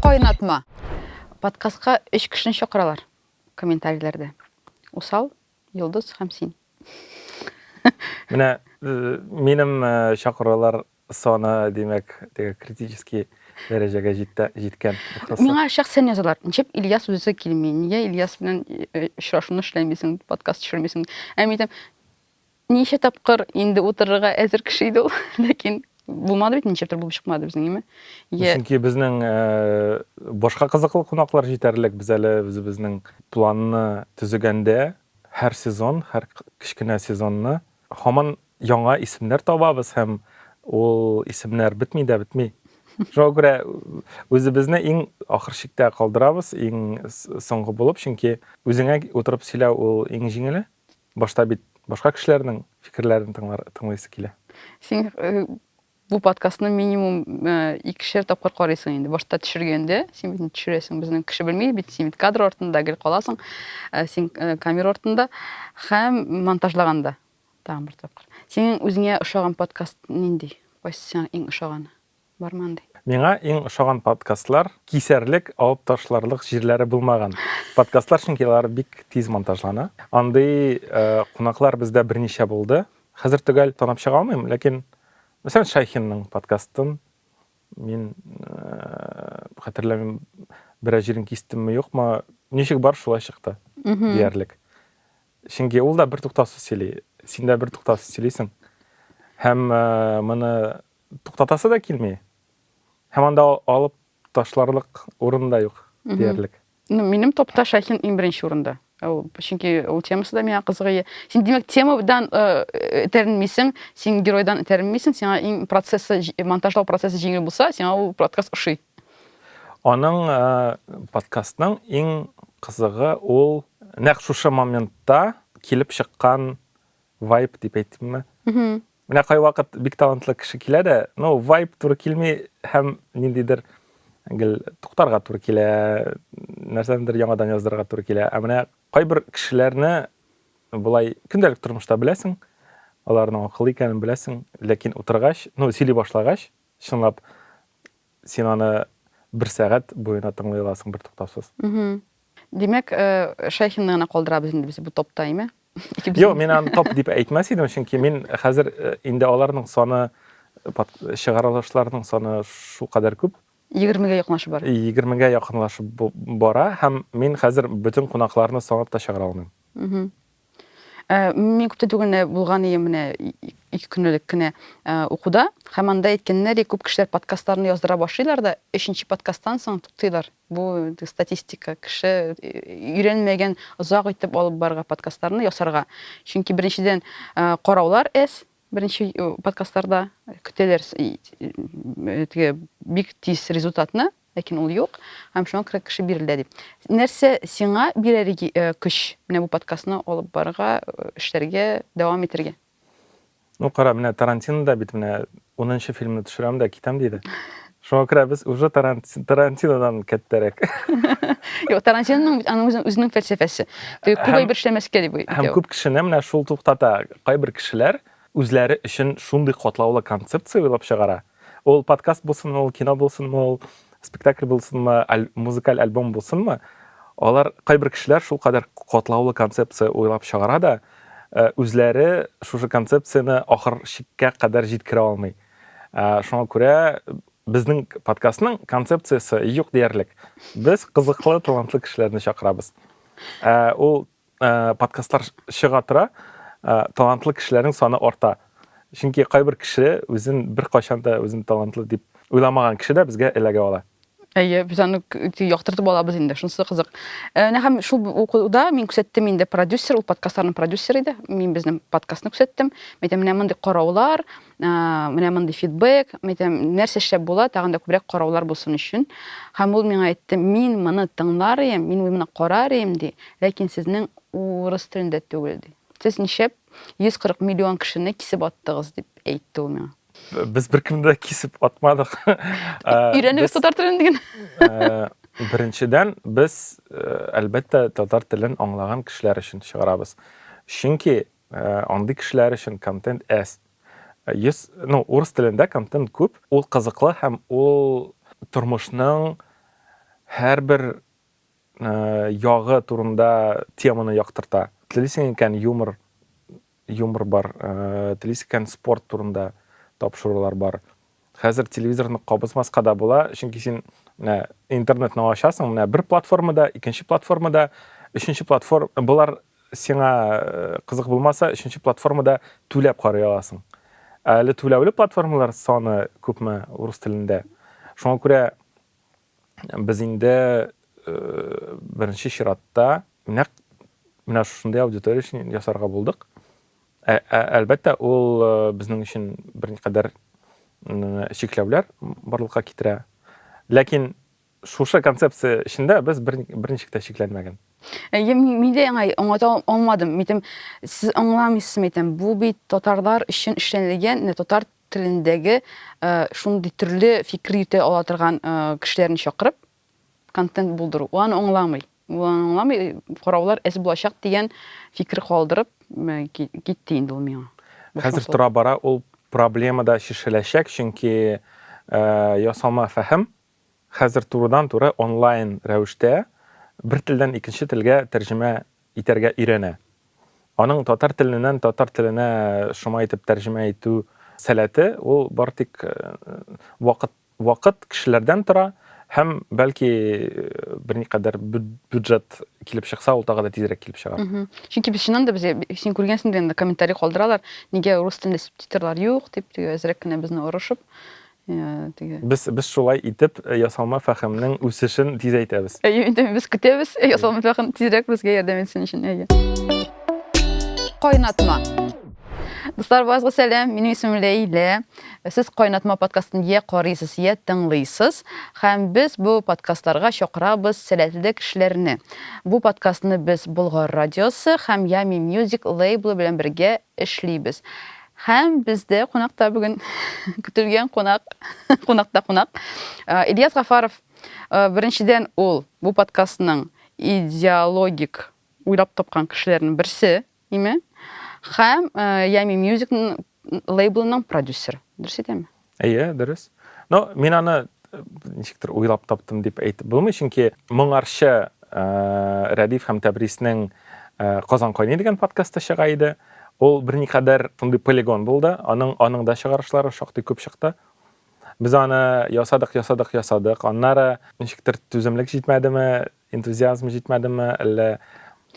Кайнатма. Подкастка өч кешене чакыралар комментарийләрдә. Усал, Йолдыз һәм син. Менә э, минем э, чакырулар саны, димәк, теге критический дәрәҗәгә җитте, җиткән. Ихласа. Миңа шәхсән язалар. Ничек Ильяс үзе килми? Нигә Ильяс белән э, очрашуны эшләмисең, подкаст төшермисең? Ә мин әйтәм, Ничә тапкыр инде утырырга әзер кеше иде ул, ләкин булмады бит, ничектер булып чыкмады безнең, име? Чөнки безнең башка кызыклы кунаклар җитәрлек. Без әле үзебезнең планны төзегәндә, һәр сезон, һәр кечкенә сезонны һаман яңа исемнәр табабыз һәм ул исемнәр бетми дә бетми. Шуңа күрә үзебезне иң ахыр чиктә калдырабыз, иң соңгы булып, чөнки үзеңә утырып сөйләү ул иң җиңеле. Башта бит башка кешеләрнең фикерләрен тыңлар, тыңлыйсы килә. Син э, бу подкастны минимум э, икешәр тапкыр карыйсың инде. Башта төшергәндә, син бит төшерәсең, безнең кеше белми бит, син бит кадр артында гел каласың, э, син э, камера артында һәм монтажлаганда тагын бер тапкыр. Синең үзеңә ошаган подкаст нинди? Кайсы сиңа иң ошаганы? Барман ди. Миңа иң ошаган подкастлар кисәрлек, алып ташларлык җирләре булмаган подкастлар, чөнки алар бик тиз монтажлана. Андый кунаклар бездә берничә булды. Хәзер төгәл танып чыга алмыйм, ләкин мәсәлән Шайхинның подкастын мин хәтерләмим, берәр җирен кистемме, юкмы, ничек бар шулай чыкты диярлек. Чөнки ул да бертуктаусыз сөйли, син дә бертуктаусыз сөйлисең. Һәм моны туктатасы да килми. Һәм анда алып ташларлык урын да юк диярлек. Ну, минем топта Шахин иң беренче урында. Ул чөнки ул темасы да миңа кызыгы. Син димәк темадан этәренмисең, син геройдан этәренмисең, сиңа иң процессы, монтажлау процессы җиңел булса, сиңа ул подкаст ошый. Аның подкастның иң кызыгы ул нәкъ шушы моментта килеп чыккан вайп дип әйтимме? Менә кайвакыт бик талантлы кеше килә дә, ну, вайп туры килми һәм ниндидер гел туктарга туры килә, нәрсәнедер яңадан яздырырга туры килә. Ә менә кайбер кешеләрне болай көндәлек тормышта беләсең, аларның акыллы икәнен беләсең, ләкин утыргач, ну, сөйли башлагач, чынлап син аны бер сәгать буена тыңлый аласың бер туктаусыз. Димәк, Шәйхинны гына калдырабыз инде без бу топта, име? Юк, мин аны топ дип әйтмәс идем, чөнки мин хәзер инде аларның саны чыгарылышларның саны шул кадәр күп. 20-гә якынлашып бара. 20-гә якынлашып бара һәм мин хәзер бөтен кунакларны санап та чыгара алмыйм. Ә, мин күптән түгел менә булган идем менә ике көн элек кенә ә, укуда, һәм анда әйткәннәр, күп кешеләр подкастларны яздыра башлыйлар да, өченче подкасттан соң туктыйлар. Бу статистика. Кеше э, өйрәнмәгән озак итеп алып барга подкастларны ясарга. Чөнки беренчедән ә, караулар әз, беренче э, подкастларда көтәләр э, теге бик тиз результатны, Ләкин ул юк, һәм шуңа күрә кеше бирелдә дип. Нәрсә сиңа бирәр көч менә бу подкастны алып барырга, эшләргә, дәвам итәргә? Ну, кара, менә Тарантино да бит менә унынчы фильмны төшерәм дә китәм диде. Шуңа күрә без уже Тарантинодан кәттәрәк. Юк, Тарантиноның бит аның үзенең фәлсәфәсе. Күп әйбер эшләмәскә дип. Һәм күп кешене менә шул туктата. Кайбер кешеләр үзләре өчен шундый катлаулы концепция уйлап чыгара, ул подкаст булсынмы, ул кино булсынмы, ул спектакль булсынмы, аль, музыкаль альбом булсынмы, алар, кайбер кешеләр шулкадәр катлаулы концепция уйлап чыгара да, э, үзләре шушы концепцияне ахыр чиккә кадәр җиткерә алмый. Э, шуңа күрә безнең подкастның концепциясе юк диярлек. Без кызыклы, талантлы кешеләрне чакырабыз. Э, ул Э, подкастлар чыга тора э, талантлы кешеләрнең саны арта чөнки кайбер кеше үзен беркайчан да үзен талантлы дип уйламаган кеше дә безгә эләгә ала әйе без аны яктыртып алабыз инде шунысы кызык э, менә һәм шул укуда мин күрсәттем инде продюсер ул подкастларның продюсеры иде мин безнең подкастны күрсәттем мен әйтәм менә мондый караулар менә мондый фидбэк, мәйтәм, нәрсә эшләп була, тагын да күбрәк караулар булсын өчен. Һәм ул миңа әйтте, мин моны тыңлар идем, мин моны карар идем, ди, ләкин сезнең урыс телендә түгел, ди. Сез ничәп 140 миллион кешене кисеп аттыгыз, дип әйтте ул миңа. Без беркемне дә кисеп атмадык. Өйрәнегез татар телен диген. Беренчедән, без әлбәттә татар телен аңлаган кешеләр өчен чыгарабыз. Чөнки Андый кешеләр өчен контент әз. Йөз, ну, урыс телендә контент күп, ул кызыклы һәм ул тормышның һәрбер ягы турында теманы яктырта. Телисең икән, юмор, юмор бар, телисең икән, спорт турында тапшырулар бар. Хәзер телевизорны кабызмаска да була, чөнки син менә интернетны ачасың, менә бер платформада, икенче платформада, өченче платформ болар сиңа э, кызык булмаса, өченче платформада түләп карый аласың. Әле түләүле платформалар саны күпме урыс телендә? Шуңа күрә без инде беренче чиратта нәкъ менә шушындый аудитория өчен ясарга булдык. Әлбәттә, ул безнең өчен берникадәр чикләүләр барлыкка китерә. Ләкин шушы концепция эчендә без берничек тә чикләнмәгән. Әйе, мин дә яңа аңлата алмадым. Митем, сез аңламыйсыз, митем, бу бит татарлар өчен эшләнелгән, татар телендәге шундый төрле фикер йөтә ала торган кешеләрне чакырып контент булдыру ул аны аңламый ул аны аңламый караулар әз булачак дигән фикер калдырып китте инде ул миңа хәзер тора бара ул проблема да чишеләчәк чөнки ясалма фәһем хәзер турыдан туры онлайн рәвештә бер телдән икенче телгә тәрҗемә итәргә өйрәнә. Аның татар теленнән татар теленә шома итеп тәрҗемә итү сәләте, ул бары тик вакыт вакыт, кешеләрдән тора һәм, бәлки, берникадәр бюджет килеп чыкса, ул тагы да тизрәк килеп чыгар. Чөнки без чыннан да, без, син күргәнсеңдер инде, комментарий калдыралар, нигә рус телендә субтитрлар юк, дип, теге әзрәк кенә безне орышып, теге. Без без шулай итеп э, ясалма фәхемнең үсешен тизәйтәбез. Әйе, инде без көтәбез. Э, ясалма фәхем тизрәк безгә ярдәм итсен өчен. Әйе. Кайнатма. Дуслар, базга сәлам. Минем исемем Ләйлә. Сез Кайнатма подкастын я карыйсыз, я тыңлыйсыз. Һәм без бу подкастларга чакырабыз сәләтле кешеләрне. Бу подкастны без Болгар радиосы һәм Ями Music лейблы белән бергә эшлибез. Һәм бездә кунакта бүген көтелгән кунак, кунакта кунак, Ильяс Гафаров. Беренчедән ул бу подкастның идеологик уйлап тапкан кешеләрнең берсе, име? Һәм Ями Music лейблының продюсер. Дөрес әйтәме? Әйе, дөрес. Но мин аны э, ничектер уйлап таптым дип әйтеп булмый, чөнки моңарчы э, Рәдиф һәм Тәбриснең э, Казан кайный дигән подкасты чыга иде. Ул берникадәр шундый полигон булды. Аның аның да чыгарышлары шактый күп чыкты. Без аны ясадык, ясадык, ясадык. Аннары ничектер түземлек җитмәдеме, энтузиазм җитмәдеме, әллә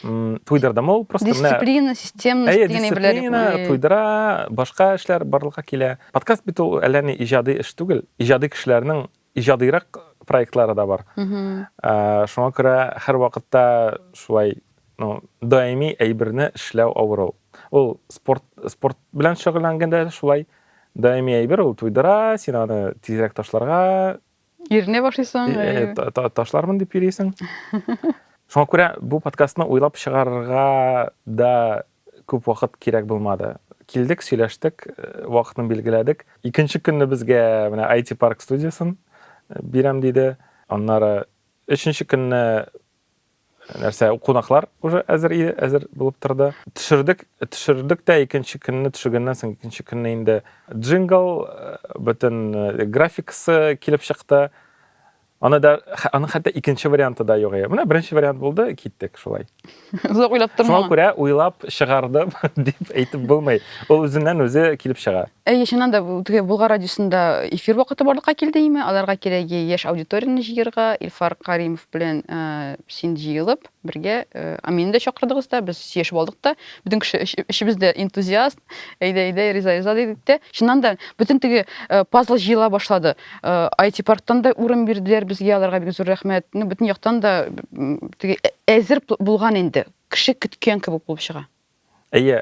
туйдырдымы ул просто дисциплина системность әйе дисциплина туйдыра башка эшләр барлыкка килә подкаст бит ул әллә ни иҗади эш түгел иҗади кешеләрнең иҗадыйрак проектлары да бар ә, шуңа күрә һәр вакытта шулай ну, даими әйберне эшләү авыр ул ул спорт спорт белән шөгыльләнгәндә шулай даими әйбер ул туйдыра син аны тизрәк ташларга Иренә башлыйсың. Э, э, э, ташлармын дип йөрисең. Шуңа күрә бу подкастны уйлап чыгарырга да күп вакыт кирәк булмады. Килдек, сөйләштек, э, вакытны билгеләдек. Икенче көнне безгә менә IT Park студиясен э, бирәм диде. Аннары өченче көнне нәрсә кунаклар уже әзер иде әзер булып торды төшердек төшердек тә икенче көнне төшергәннән соң икенче көнне инде джингл э, бөтен э, графикасы килеп чыкты аны да аның хәтта икенче варианты да юк менә беренче вариант булды киттек шулай озак уйлап тормаган шуңа күрә уйлап чыгардым дип әйтеп булмый ул үзеннән үзе килеп чыга Әйе, чыннан да теге Булгар радиосында эфир вакыты барлыкка килде име? Аларга кирәге яшь аудиторияне җыерга, Илфар Каримов белән э, син җыелып, бергә э, Аминне дә чакырдыгыз да, без сөйләшеп алдык та. Бөтен кеше эш- эшебез дә энтузиаст, әйдә, әйдә, риза, риза дидек тә. Чыннан да бөтен теге э, пазл җыела башлады. Э, IT парктан да урын бирделәр безгә, аларга бик зур рәхмәт. Ну, бөтен яктан да м, теге ә- әзер бу- булган инде. Кеше көткән кебек булып чыга. Әйе,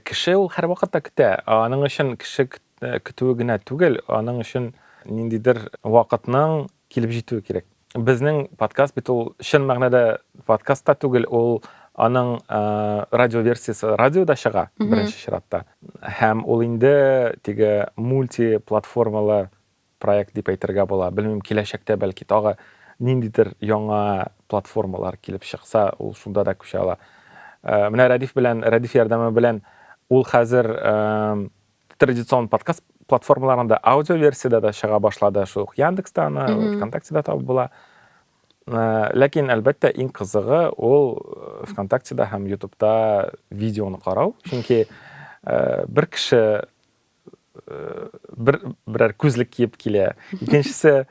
кеше ул һәрвакытта көтә. Аның өчен кеше көтүе генә түгел, аның өчен ниндидер вакытның килеп җитүе кирәк. Безнең подкаст бит ул чын мәгънәдә подкаст та түгел, ул аның радиоверсиясе радиода чыга беренче чиратта. Һәм ул инде теге мультиплатформалы проект дип әйтергә була. Белмим, киләчәктә, бәлки, тагы ниндидер яңа платформалар килеп чыкса, ул шунда да күчә ала. Э, менә Рәдиф белән, Рәдиф ярдәме белән ул хәзер э, традицион подкаст платформаларында аудио версияда да чыга башлады шул ук яндекста аны вконтактеда табып була э, ләкин әлбәттә иң кызыгы ул э, вконтактеда һәм ютубта видеоны карау чөнки э, бер кеше бер берәр күзлек киеп килә. Икенчесе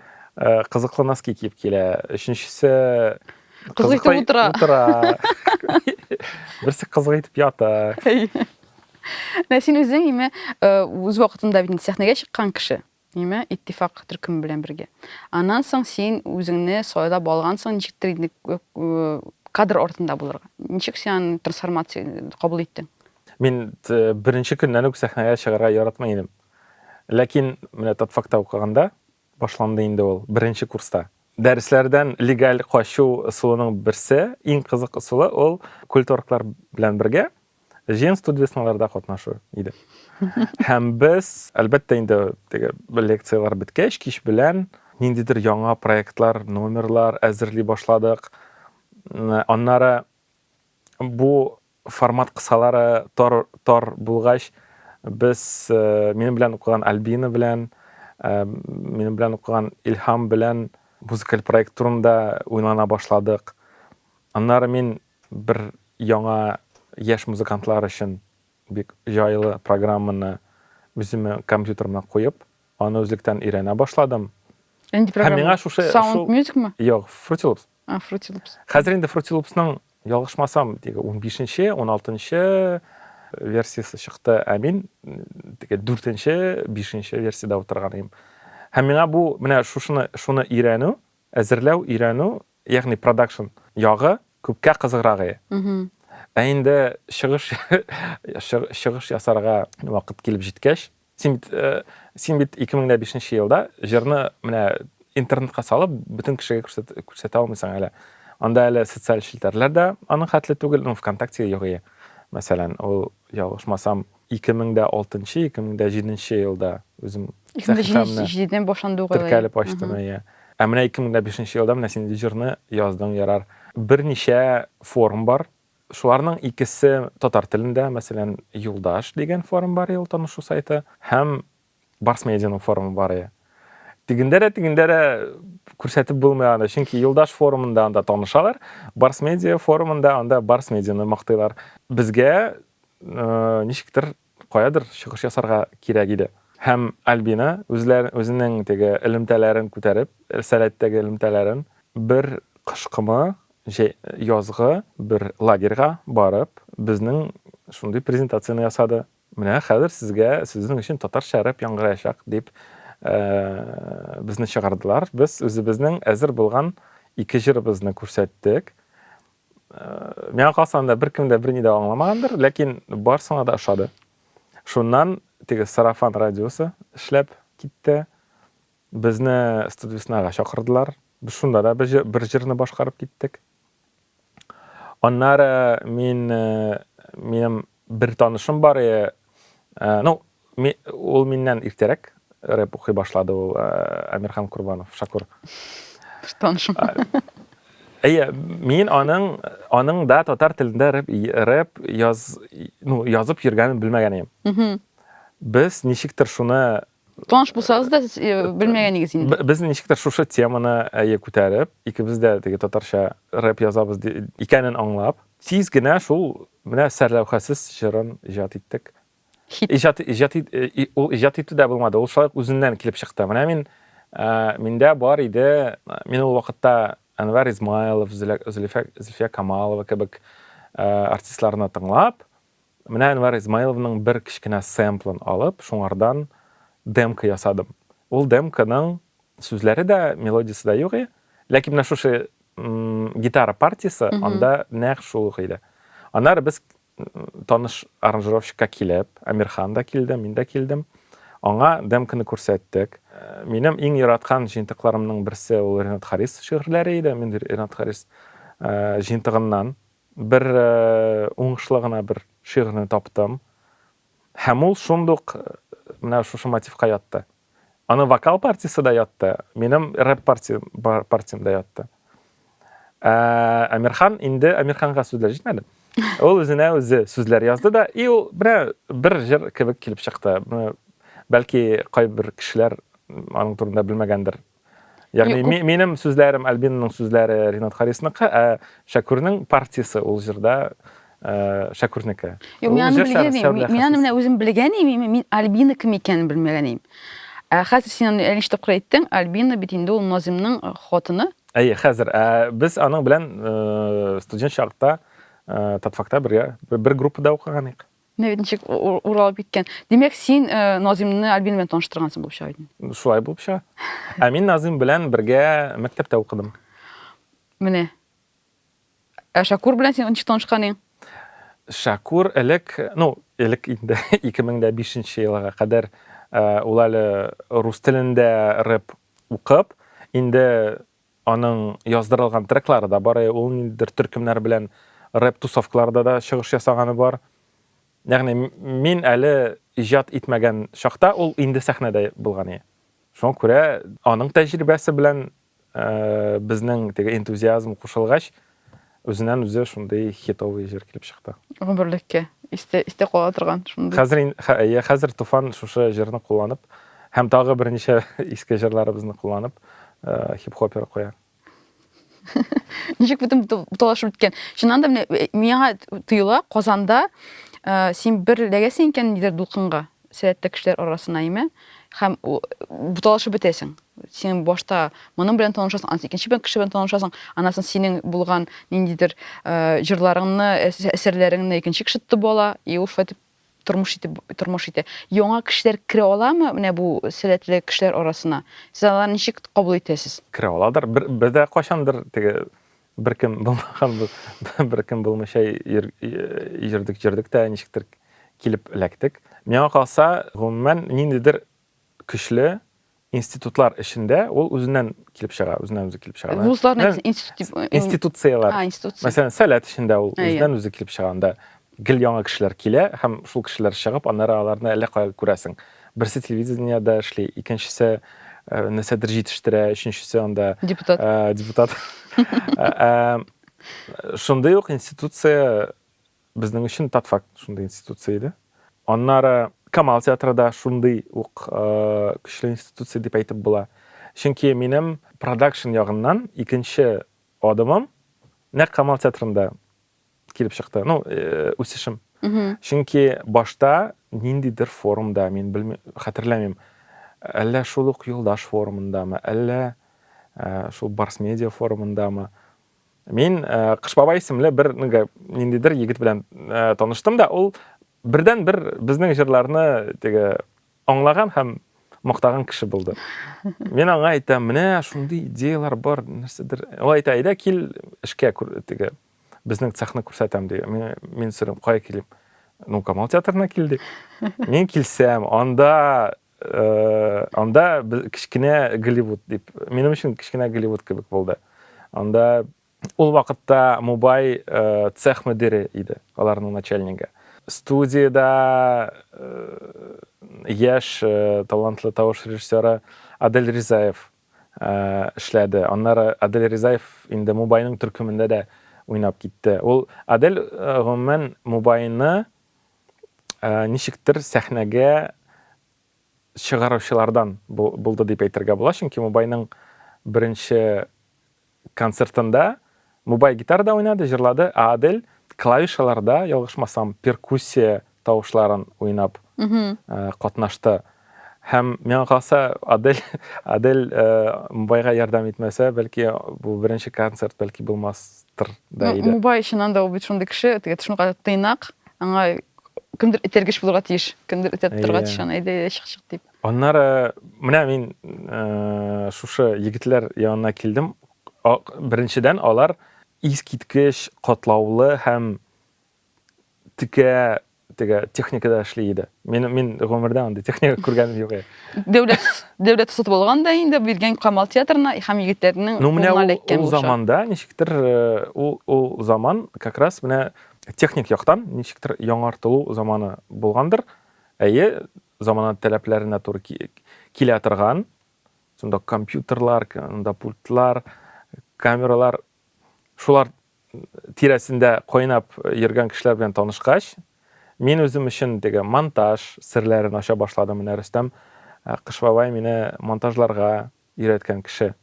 кызыклы носки киеп килә. Өченчесе кызык итеп утыра. Утыра. Берсе кызык итеп ята. Менә син үзең име үз вакытында бит сәхнәгә чыккан кеше. Име иттифак төркеме белән бергә. Аннан соң син үзеңне сайлап алгансың, ничектер инде кадр артында булырга. Ничек син трансформация кабул иттең? Мин беренче көннән үк сәхнәгә чыгарга яратмый идем. Ләкин менә татфакта укыганда башланды инде ул, беренче курста. Дәресләрдән легаль качу ысулының берсе, иң кызык ысулы ул культурклар белән бергә җыен студвесналарда катнашу иде. Һәм без, әлбәттә инде, теге лекцияләр беткәч, кич белән ниндидер яңа проектлар, номерлар әзерли башладык. Аннары бу Формат кысалары тар тар булгач, без минем белән укыган Альбина белән, минем белән укыган Илһам белән музыкаль проект турында уйлана башладык. Аннары мин бер яңа яшь музыкантлар өчен бик җайлы программаны үземнең компьютерыма куеп, аны үзлектән өйрәнә башладым. Нинди программа? Һәм миңа шушы Sound Music мы? Юк, Fruity Loops. А, Fruity Loops. Хәзер инде Fruity Loopsның ялгышмасам, теге 15-нче, 16-нчы версиясе чыкты, ә мин теге 4-нче, 5-нче версияда утырган идем. Һәм миңа бу менә шушыны шуны өйрәнү, әзерләү, өйрәнү, ягъни продакшн ягы күпкә кызыграк иде. Ә инде чыгыш чыгыш ясарга вакыт килеп җиткәч, Син бит, э, син бит 2005 нче елда җырны менә интернетка салып, бөтен кешегә күрсәт, күрсәтә алмыйсың әле. Анда әле социаль челтәрләр дә аның хәтле түгел, ну, ВКонтакте юк ие. Мәсәлән, ул, ялгышмасам, 2006-2007 елда үзем сәхифәмне 2007-дән башланды ул теркәлеп ачтым, ие. Ә менә 2005 елда менә син җырны яздың, ярар. Берничә форум бар, Шуларның икесе татар телендә, мәсәлән, Юлдаш дигән форум бар ел танышу сайты һәм Барс медианың форумы бар ие. Тегендә дә, тегендә дә күрсәтеп булмый аны, чөнки Юлдаш форумында анда танышалар, Барс медиа форумында анда Барс медианы мактыйлар. Безгә ничектер Каядыр чыгыш ясарга кирәк иде. Һәм Альбина, үзләр, үзенең теге элемтәләрен күтәреп, сәләттәге элемтәләрен, бер кышкымы, җәй, язгы бер лагерьга барып, безнең шундый презентацияне ясады. Менә хәзер сезгә, сезнең өчен татарча рэп яңгыраячак, дип, ә, безне чыгардылар. Без үзебезнең әзер булган ике җырыбызны күрсәттек. миңа калса анда беркем дә берни дә аңламагандыр ләкин барсына да ошады шуннан теге сарафан радиосы эшләп китте безне студвеснага чакырдылар без шунда да бер җырны башкарып киттек аннары мин минем Бер танышым бар, э, э, ну, ми, ул миннән иртәрәк рэп укый башлады ул э, Әмирхан Курбанов, Шакур. Бер танышым. Әйе, мин аның, аның да татар телендә рэп, рэп яз, ну, язып йөргәнен белмәгән идем. Без ничектер шуны Таныш булсагыз да, сез э, белмәгәнегез инде. Б- Без ничектер шушы теманы әйе күтәреп, икебез дә теге татарча рэп язабыз ди- икәнен аңлап, тиз генә шул менә сәрләүхәсез җырын иҗат иттек. Хит. Иҗат иҗат ит- э, и- ул иҗат итү дә булмады, ул шулай ук үзеннән килеп чыкты. Менә мин э, миндә бар иде, мин ул вакытта Әнвәр Измайлов, Зөлә- Зөлфия Зөлфия Камалова кебек э, артистларны тыңлап, Менә Әнвәр Измайловның бер кечкенә сэмплын алып, шуңардан демка ясадым. Ул демканың сүзләре дә, мелодиясе дә юк и, ләкин менә шушы гитара партиясе анда нәкъ шул ук иде. Аннары без таныш аранжировщикка килеп, Әмирхан да килде, мин дә килдем, аңа демканы күрсәттек. Минем иң яраткан җыентыкларымның берсе ул Ренат Харис шигырьләре иде, мин Ренат Харис җыентыгыннан Бер уңышлы гына бер шигырьне таптым. Һәм ул шундук менә шушы мотивка ятты. Аны вокал партиясе дә ятты, минем рэп партиям дә ятты. Ә Әмирхан инде Әмирханга сүзләр җитмәде. Ул үзенә үзе сүзләр язды да, и ул бер бер җыр кебек килеп чыкты. Бәлки кайбер кешеләр аның турында белмәгәндер, Ягъни ми, минем сүзләрем Альбинның сүзләре Ринат Харисныка, ә Шәкүрнең партиясе ул җырда э, Шәкүрнеке. Юк, мин аны белгән идем. Мин аны менә үзем белгән идем, мин Альбина кем икәнен белмәгән идем. Ә хәзер син аны әле ничек әйттең, Альбина бит инде ул Назимның э, хатыны. Әйе, хәзер. Ә без аның белән э, студент чакта э, Татфакта бергә бер группада укыган идек. Менә бит ничек уралып киткән. Димәк, син э, Назимны Альбин белән таныштыргансың булып чыга идең. Шулай булып чыга. Ә мин Назим белән бергә мәктәптә укыдым. Менә. Ә Шакур белән син ничек танышкан идең? Шакур элек, ну, элек инде 2005 елга кадәр э, ул әле рус телендә рэп укып, инде Аның яздырылган треклары да бар, ул ниндидер төркемнәр белән рэп тусовкаларда да чыгыш ясаганы бар. Ягъни мин әле иҗат итмәгән чакта ул инде сәхнәдә булган иде. Шуңа күрә аның тәҗрибәсе белән безнең теге энтузиазм кушылгач, Үзеннән үзе шундый хитовый җыр килеп чыкты. Гомерлеккә истә истә кала торган шундый. Хәзер әйе, хәзер Туфан шушы җырны кулланып һәм тагы берничә иске җырларыбызны кулланып хип-хопер куя. Ничек бөтен буталашып беткән. Чыннан да менә миңа тоела Казанда син бер ләгәсең икән нидер дулкынга. Сәләтле кешеләр арасына име, һәм буталышып бетәсең. Син башта моның белән танышасың, аннан икенче бер кеше белән танышасың, аннан соң синең булган ниндидер э, җырларыңны, әсәрләреңне икенче кеше тотып ала, и ул шулай итеп тормыш итеп тормыш итә. Яңа кешеләр керә аламы менә бу сәләтле кешеләр арасына? Сез аларны ничек кабул итәсез? Керә аладыр. Бер, бер дә кайчандыр теге Беркем булмаган беркем булмыйча йөрдек, йөрдек тә ничектер килеп эләктек. Миңа калса, гомумән, ниндидер көчле институтлар эчендә ул үзеннән килеп чыга, үзеннән үзе килеп чыга. Вузларны институт дип институцияләр. А, институция. Мәсәлән, Сәләт эчендә ул үзеннән үзе килеп чыга анда. Гел яңа кешеләр килә һәм шул кешеләр чыгып, аннары аларны әллә кая күрәсең. Берсе телевидениедә эшли, икенчесе нәрсәдер җитештерә, өченчесе анда депутат. депутат. Шундый ук институция безнең өчен татфак шундый институция иде. Аннары Камал театры да шундый ук көчле институция дип әйтеп була. Чөнки минем продакшн ягыннан икенче адымым нәкъ Камал театрында килеп чыкты ну э, үсешем чөнки башта ниндидер форумда мин белмим хәтерләмим әллә шул ук юлдаш форумындамы әллә э, шул барс медиа форумындамы мин э, кыш бабай исемле бер ниндидер егет белән таныштым да ул бердән бер безнең җырларны теге аңлаган һәм мактаган кеше булды мин аңа әйтәм менә шундый идеялар бар нәрсәдер ул әйтә әйдә кил эшкә теге Безнең цехны күрсәтәм ди. Мин, мин сорыйм, кая килим? Ну, Камал театрына кил ди. Мин килсәм, анда э, анда без- кечкенә Голливуд дип. Минем өчен кечкенә Голливуд кебек булды. Анда ул вакытта Мубай э, цех мөдире иде, аларның начальнигы. Студиядә э, яшь э, талантлы тавыш режиссеры Адель Ризаев эшләде. Аннары Адель Ризаев инде Мубайның төркемендә дә уйнап китте. Ул Адель гомумән Мубайны ничектер сәхнәгә чыгаручылардан булды дип әйтергә була, чөнки Мубайның беренче Концертында Мубай гитарада уйнады, җырлады, ә Адель клавишаларда, ялгышмасам, перкуссия тавышларын уйнап катнашты. Һәм миңа калса, Адель, Адель Мубайга ярдәм итмәсә, бәлки бу беренче концерт бәлки булмастыр да иде. Мубай чыннан да ул бит шундый кеше, теге шундый тыйнак, аңа кемдер этәргеч булырга тиеш, кемдер этәртеп торырга тиеш аны, әйдә, чык, чык дип. Аннары менә мин шушы егетләр янына килдем. Беренчедән, алар искиткеч катлаулы һәм текә теге техникада эшли иде. Мин мин гомердә андый техника күргән юк. Дәүләт дәүләт сатып алган да инде биргән Камал театрына һәм егетләрнең ну, менә ул, заманда ничектер э, ул ул заман как раз менә техник яктан ничектер яңартылу заманы булгандыр. Әйе, замана таләпләренә туры килә торган, шунда компьютерлар, анда пультлар, камералар, шулар тирәсендә кайнап йөргән кешеләр белән танышкач, мин үзем өчен теге монтаж серләрен ача башладым. Менә Рөстәм Кыш бабай мине монтажларга өйрәткән кеше.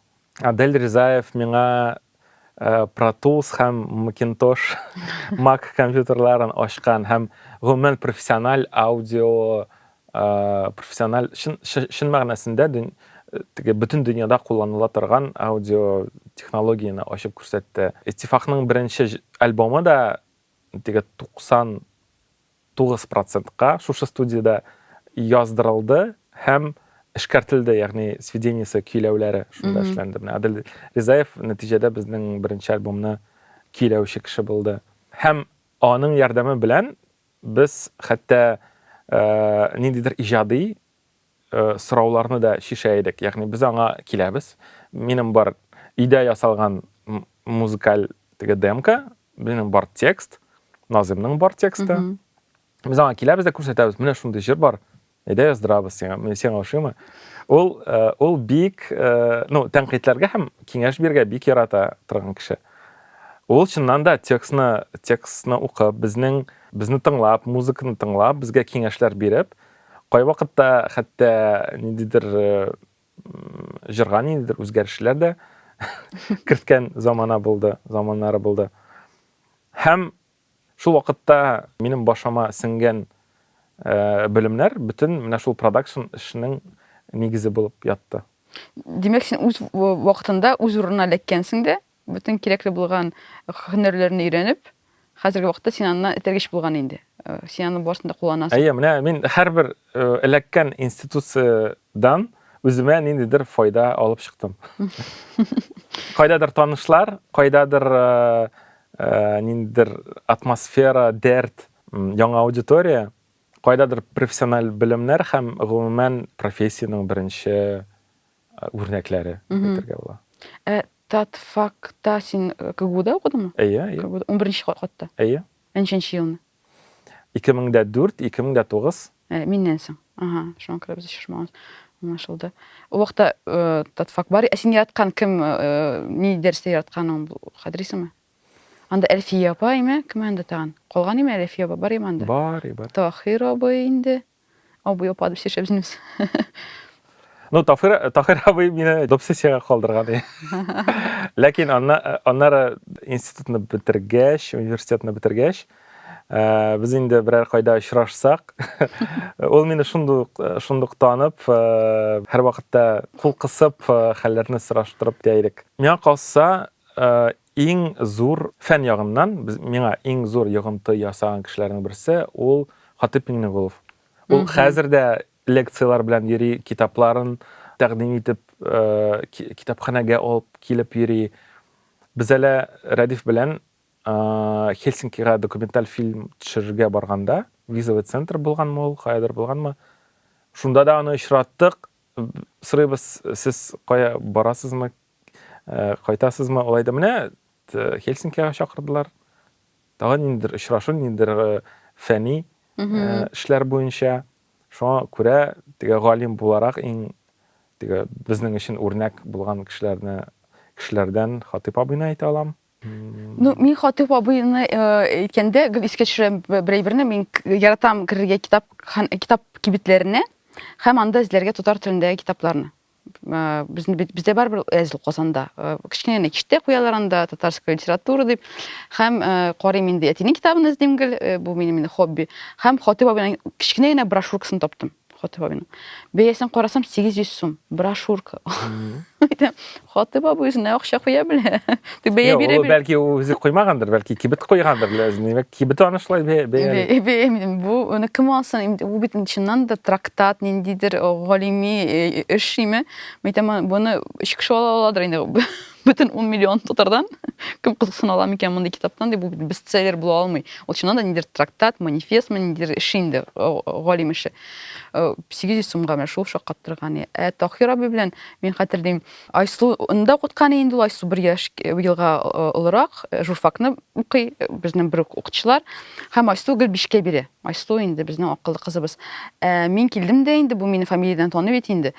Адель Ризаев миңа Pro Tools һәм Macintosh Mac компьютерларын ачкан һәм гомумән профессиональ аудио профессиональ чын, чын мәгънәсендә теге бөтен дөньяда кулланыла торган аудио технологияне ачып күрсәтте. Иттифакның беренче альбомы да теге 90 Тугыз процентка шушы студиядә яздырылды һәм эшкәртелде, ягъни сведениесе, көйләүләре шунда эшләнде. Менә Адел Ризаев нәтиҗәдә безнең беренче альбомны көйләүче кеше булды. Һәм аның ярдәме белән без хәтта ниндидер иҗади сорауларны да чишә идек. Ягъни без аңа киләбез. Минем бар өйдә ясалган музыкаль теге демка, минем бар текст, Назимның бар тексты. Mm -hmm. Без аңа киләбез дә күрсәтәбез. Менә шундый җыр бар. Әйдә яздырабыз сиңа. Менә сиңа ошыймы? Ул э, ул бик, э, ну, тәнкыйтьләргә һәм киңәш бирергә бик ярата торган кеше. Ул чыннан да текстны, текстны укып, безнең безне тыңлап, музыканы тыңлап, безгә киңәшләр биреп, Кайвакытта хәтта ниндидер җырга ниндидер үзгәрешләр дә керткән замана булды, заманнары булды. Һәм шул вакытта минем башыма сеңгән белемнәр бөтен менә шул продакшн эшенең нигезе булып ятты. Димәк, син үз вакытында үз урынына эләккәнсең дә, Бөтен кирәкле булган һөнәрләрне өйрәнеп, хәзерге вакытта син аннан этәргеч булган инде. Э, син аны барысын да кулланасың. Әйе, менә мин һәрбер э, эләккән институциядан үземә ниндидер файда алып чыктым. Кайдадыр танышлар, кайдадыр э, ниндидер атмосфера, дәрт, яңа аудитория, кайдадыр профессиональ белемнәр һәм гомумән профессиянең беренче үрнәкләре дип әйтергә була. Ә Татфакта син КГУда укыдыңмы? Әйе, әйе. КГУда унберенче катта? Әйе. Ә ничәнче елны? 2004, 2009. Ә, миннән соң. Ага, шуңа күрә без очрашмаганбыз. Аңлашылды. Ул вакытта Татфак бар. Ә син яраткан кем, ни дәрестә яратканың хәтерисеңме? Анда Әлфия апа име, кем анда тагын? Калган име Әлфия апа, бар име анда? Бар, бар. Таһир абый инде. Абый апа дип сөйләшә безнең. Ну, Тафир, Таһир абый мине допсессиягә калдырган. Ләкин аннары институтны бетергәч, университетны бетергәч, э, без инде берәр кайда очрашсак, ул мине шундук шундук танып, э, һәрвакытта кул кысып, э, хәлләрне сораштырып тә идек. Миңа калса, Иң зур, фән ягыннан, без, миңа иң зур йогынты ясаган кешеләрнең берсе, ул Хатыйп Миңнегулов. Ул хәзер дә лекцияләр белән йөри, китапларын тәкъдим итеп, китапханәгә алып килеп йөри. Без әле Рәдиф белән Хельсинкига документаль фильм төшерергә барганда, визовый центр булганмы ул, каядыр булганмы, шунда да аны очраттык. Сорыйбыз, сез кая барасызмы, Ә, кайтасызмы? Алай да менә Хельсинкига чакырдылар. Тагын ниндидер очрашу, ниндидер э, фәни э, эшләр буенча. Шуңа күрә теге галим буларак иң теге безнең өчен үрнәк булган кешеләрне кешеләрдән Хатыйп абыйны әйтә алам. Ну, мин Хатыйп абыйны э, әйткәндә гел искә төшерәм б- бер әйберне. Мин к- яратам керергә китап хан- китап кибетләренә һәм анда эзләргә татар телендәге китапларны. безне бездә барыбер әзил казанда кечкенә генә киштә куялар анда татарская литература дип һәм карыйм инде әтинең китабын эзлим гел бу минем инде хобби һәм хатыйп абыйның кечкенә генә брошюркасын таптым хатыйп абыйның бәясен карасам сигез йөз сум брошюрка хатыйп абый үзенә акча куя белә Бәя Юк, бирә ул бир. бәлки үзе куймагандыр, бәлки кибет куйгандыр, ләзин. Димәк, кибет аны шулай бәя- бәя. Бе- бе- мин- Бу аны кем алсын? Инде Бу бит чыннан да трактат, ниндидер о, галими э, эш шиме? Мин әйтәм, аны- буны өч кеше ала аладыр инде. Бөтен 10 миллион татардан кем кызыксына ала микән мондый китаптан дип, бу бит бестселлер була алмый. Ул чыннан да ниндидер трактат, манифестмы, ниндидер эш инде, о, о, галим эше. Э, 800 сумга менә шул шаккаттырган. Ә Таһир абый белән мин хәтерлим, Айсу ны да укытканы инде ул Айсу бер яшь елга олырак журфакны укый безнең бер үк укытучылар һәм Айсу гел бишкә бире Айсу инде безнең акыллы кызыбыз ә, мин килдем дә инде бу мине фамилиядән таный бит инде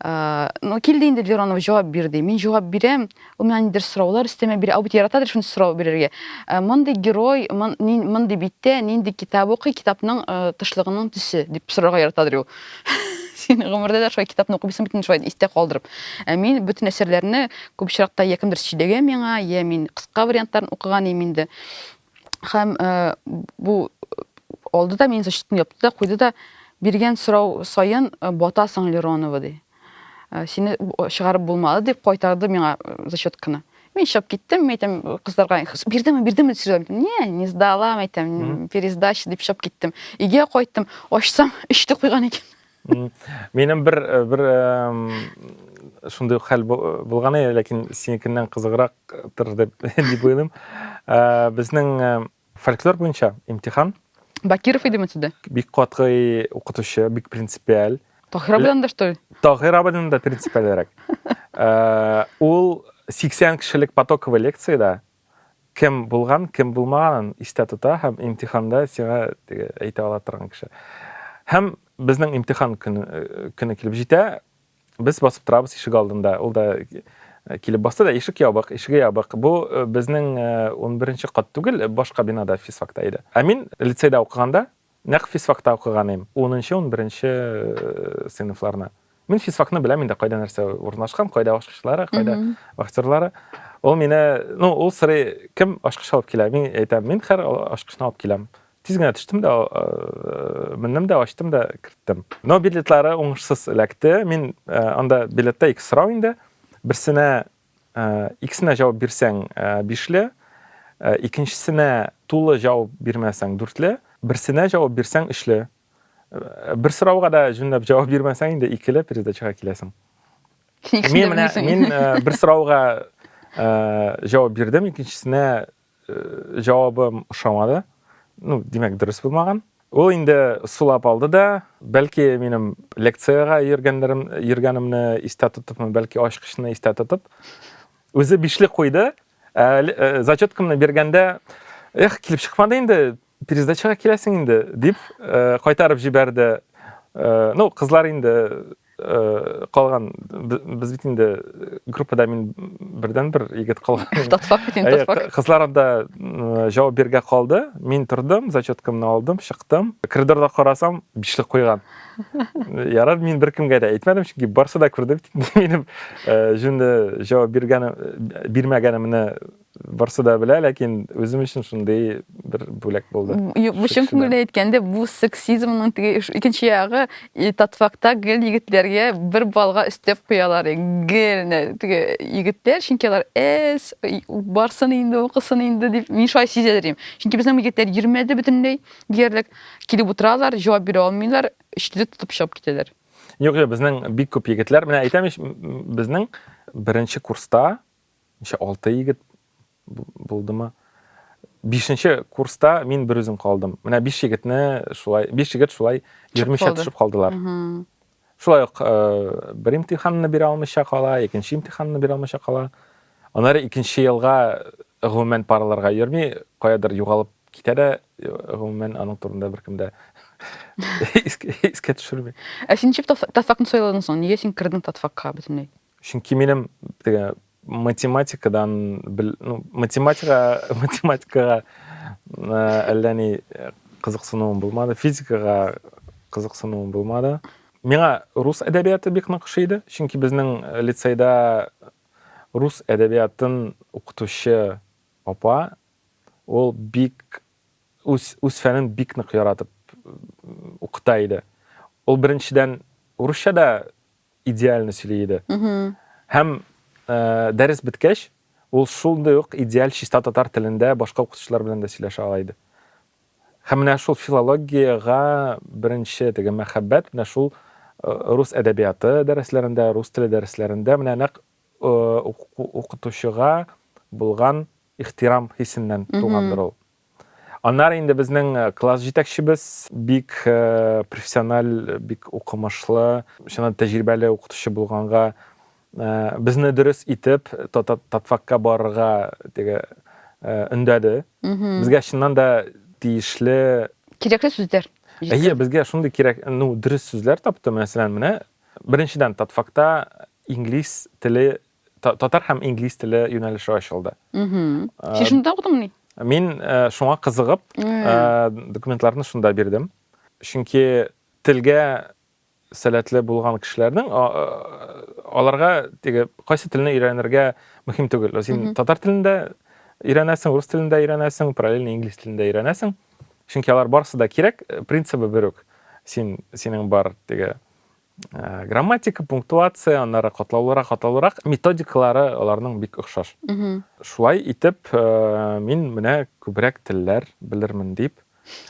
ә, ну килде инде Леронова җавап бир ди мин җавап бирәм ул миңа нидер сораулар өстәмә бирә ул бит яратадыр шундый сорау бирергә ә, мондый герой мондый биттә нинди китап укый китапның тышлыгының төсе дип сорарга яратадыр ул син гомердә дә шулай китапны укымыйсың бит шулай истә калдырып ә мин бөтен әсәрләрне күп очракта йә кемдер сөйләгә миңа йә мин кыска вариантларын укыган идем инде һәм э, бу алды да мин защитны япты да куйды да биргән сорау саен э, батасың леронова ди Ә, сине чыгарып булмады, дип кайтарды миңа зачетканы. Мин чыгып киттем, әйтәм, кызларга, бирдеме, бирдеме, сөйләм. Не, не сдала, әйтәм, пересдача дип чыгып киттем. Иге кайттым, ачсам, эчте куйган икән. Минем бер э, бер шундый хәл булган иде, ләкин синекеннән кызыграк тыр дип дип уйлыйм. Э, безнең э, Фольклор буенча имтихан. Бакиров идеме сездә? Бик катгый укытучы, бик принципиаль. Таһир абыдан да что ли? Таһир абыдан да принципиальрәк. Э, ул 80 кешелек потоковый лекциядә кем булган, кем булмаганын истә тота һәм имтиханда сиңа әйтә ала торган кеше. Һәм безнең имтихан көне, э, көне килеп җитә, Без басып торабыз ишек алдында. Ул да килеп басты да ишек ябык, ишеге ябык. Бу безнең 11-нче кат түгел, башка бинада физфакта иде. Ә мин лицейда укыганда нәкъ физфакта укыган идем, 10-нчы, 11-нче сыйныфларны. Мин физфакны беләм инде, кайда нәрсә урнашкан, кайда ашкычлары, кайда вахтерлары. Ул мине, ну, ул сорый, кем ашкыч алып килә? Мин әйтәм, мин хәр ашкычны алып киләм. Тиз генә төштем дә, э, мендем дә, ачтым да керттем. Но билетлары уңышсыз эләкте. Мин э, анда билетта ике сорау инде. Берсенә э, икесенә җавап бирсәң бишле, икенчесенә тулы җавап бирмәсәң дүртле, берсенә җавап бирсәң өчле. Бер сорауга да җүнләп җавап бирмәсәң инде икеле передачага киләсең. Мин менә мин бер сорауга җавап бирдем, икенчесенә җавабым ошамады. Ну, димәк, дөрес булмаган. Ул инде сулап алды да, бәлки минем лекциягә йөргәннәрем, йөргәнемне истә тотыпмы, бәлки ачкычны истә тотып, үзе бишле куйды. Ә, зачеткамны биргәндә, эх, килеп чыкмады инде, Пересдачага киләсең инде, дип кайтарып җибәрде. Ну, кызлар инде калган, без бит инде группада мин бердәнбер егет калган. Татфак бит инде, татфак. Кызлар анда җавап бирергә калды. Мин тордым, зачеткамны алдым, чыктым. Коридорда карасам, бишлек куйган. Ярар, мин беркемгә дә әйтмәдем, чөнки барсы да күрде бит инде минем җүнле җавап биргәнем, бирмәгәнемне. Барсы да белә, ләкин үзем өчен шундый бер бүләк булды. Юк, бу чын күңелдән әйткәндә, бу сексизмның теге икенче ягы, и татфакта гел егетләргә бер балга өстәп куялар. Гел теге егетләр, чөнки алар эс, барсын инде, укысын инде дип, мин шулай сизәдерим. Чөнки безнең егетләр йөрмәде бөтенләй диярлек. Килеп утыралар, җавап бирә алмыйлар, өчтүлек тотып чыгып китәләр. Юк, юк, безнең бик күп егетләр, менә әйтәм ич, безнең беренче курста ничә алты егет булдымы бишенче курста мин бер үзем калдым менә биш егетне шулай биш егет шулай йөрмичә төшеп калдылар шулай ук э, бер имтиханны бирә алмыйча кала икенче имтиханны бирә алмыйча кала аннары икенче елга гомумән парларга йөрми каядыр югалып китә дә э, гомумән аның турында беркем дә искә төшерми ә син ничек татфакны сайладың соң нигә син кірдің татфакка бөтенләй чөнки минем теге математикадан ну, математика математикага әллә ни кызыксынуым булмады физикага кызыксынуым булмады миңа рус әдәбияты бик нык ошый иде чөнки безнең э, лицейда рус әдәбиятын укытучы апа ул бик үз үз фәнен бик нык яратып укыта иде ул беренчедән урысча да идеально сөйли иде. Һәм дәрес беткәч, ул шундый ук идеаль чиста татар телендә башка укытучылар белән дә сөйләшә ала иде. Һәм менә шул филологиягә беренче теге мәхәббәт менә шул рус әдәбияты дәресләрендә, рус теле дәресләрендә менә нәкъ укытучыга булган ихтирам хисеннән тугандыр ул. Аннары инде безнең класс җитәкчебез, бик профессиональ, бик укымышлы, чыннан тәҗрибәле укытучы булганга, безне дөрес итеп татфакка барырга теге өндәде. Безгә чыннан да тиешле кирәкле сүзләр. Әйе, безгә шундый кирәк, ну, дөрес сүзләр тапты, мәсәлән, менә беренчедән татфакта инглиз теле Татар һәм инглиз теле юнәлеше ачылды. Син шунда укыдыңмыни? Мин шуңа кызыгып, документларны шунда бирдем. Чөнки телгә сәләтле булган кешеләрнең аларга теге кайсы телне өйрәнергә мөһим түгел. Син татар телендә өйрәнәсең, рус телендә өйрәнәсең, параллельно инглиз телендә өйрәнәсең. Чөнки алар барысы да кирәк, принцибы бер үк. Син синең бар теге Ә, грамматика, пунктуация, аннары катлаулырак, катлаулырак методикалары аларның бик охшаш. Шулай итеп, э, мин менә күбрәк телләр белермен дип.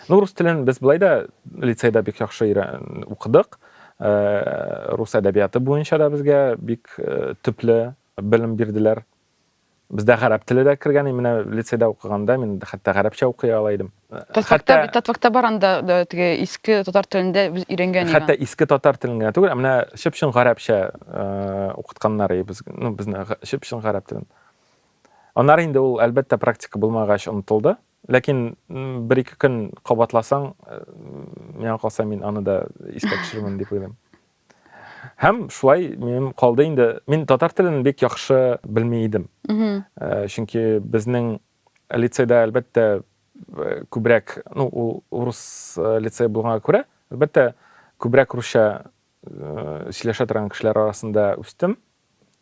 Ну, рус телен без былай да лицейда бик яхшы өйрән- укыдык. Э, Рус әдәбияты буенча да безгә бик э, төпле белем бирделәр. Бездә гарәп теле дә кергән, и менә лицейда укыганда мин хәтта гарәпчә укый ала идем. Татвакта, Хәтта- Татвакта бар анда да, теге иске татар телендә без өйрәнгән иде. Хәтта иске татар телен генә түгел, ә менә чып-чын гарәпчә э, укытканнар и без, ну, безне га- чып-чын гарәп телен. Аннары инде ул, әлбәттә, практика булмагач онытылды. Ләкин м, бер-ике көн кабатласаң, э, миңа калса мин аны да искә төшерермен дип уйлыйм. Һәм шулай минем калды инде. Мин татар телен бик яхшы белми идем. Э, чөнки безнең лицейда, әлбәттә, э, күбрәк, ну, ул урыс э, лицей булганга күрә, әлбәттә, күбрәк русча э, сөйләшә торган кешеләр арасында үстем.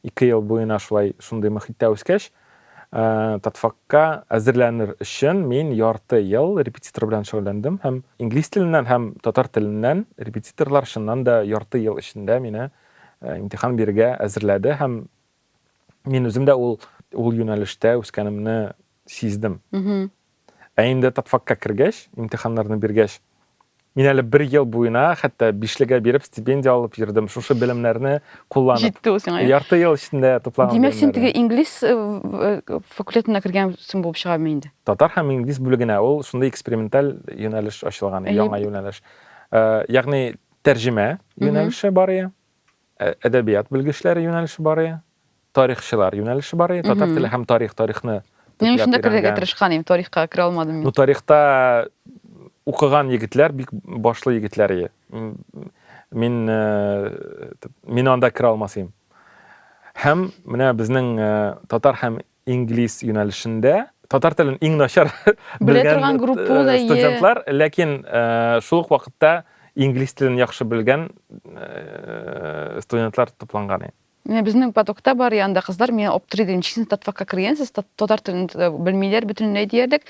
Ике ел буена шулай шундый мохиттә үскәч, Татфакка әзерләнер өчен мин ярты ел репетитор белән шөгыльләндем һәм инглиз теленнән һәм татар теленнән репетиторлар чыннан да ярты ел эчендә мине имтихан бирергә әзерләде һәм мин үзем дә ул ул юнәлештә үскәнемне сиздем. Ә инде тапфакка кергәч, имтиханнарны биргәч, мин әле бер ел буена хәтта бишлегә биреп стипендия алып йөрдем шушы белемнәрне кулланып җитте ул сиңа ярты ел эчендә туплаган димәк син теге инглиз э, э, факультетына кергәнсең булып чыгамы инде татар һәм инглиз бүлегенә ул шундый эксперименталь юнәлеш ачылган яңа юнәлеш э, ягъни тәрҗемә юнәлеше бар Әдәбият белгечләре юнәлеше бар иде, тарихчылар юнәлеше бар иде, татар теле һәм тарих, тарихны Мин шунда төгәлләп керергә өйрәнгән. тырышкан идем, тарихка керә алмадым Ну, мин. тарихта укыган егетләр бик башлы егетләр иде. М, Мин, э, т- мин анда керә алмас идем. Һәм менә безнең э, татар һәм инглиз юнәлешендә татар телен иң начар белгән э, студентлар, ләкин э, шул ук вакытта инглиз телен яхшы белгән э, студентлар тупланган. Менә безнең потокта бар янда кызлар миңа оптри дим, чисен татфакка кергәнсез, татар телен белмиләр бөтенләй диярлек.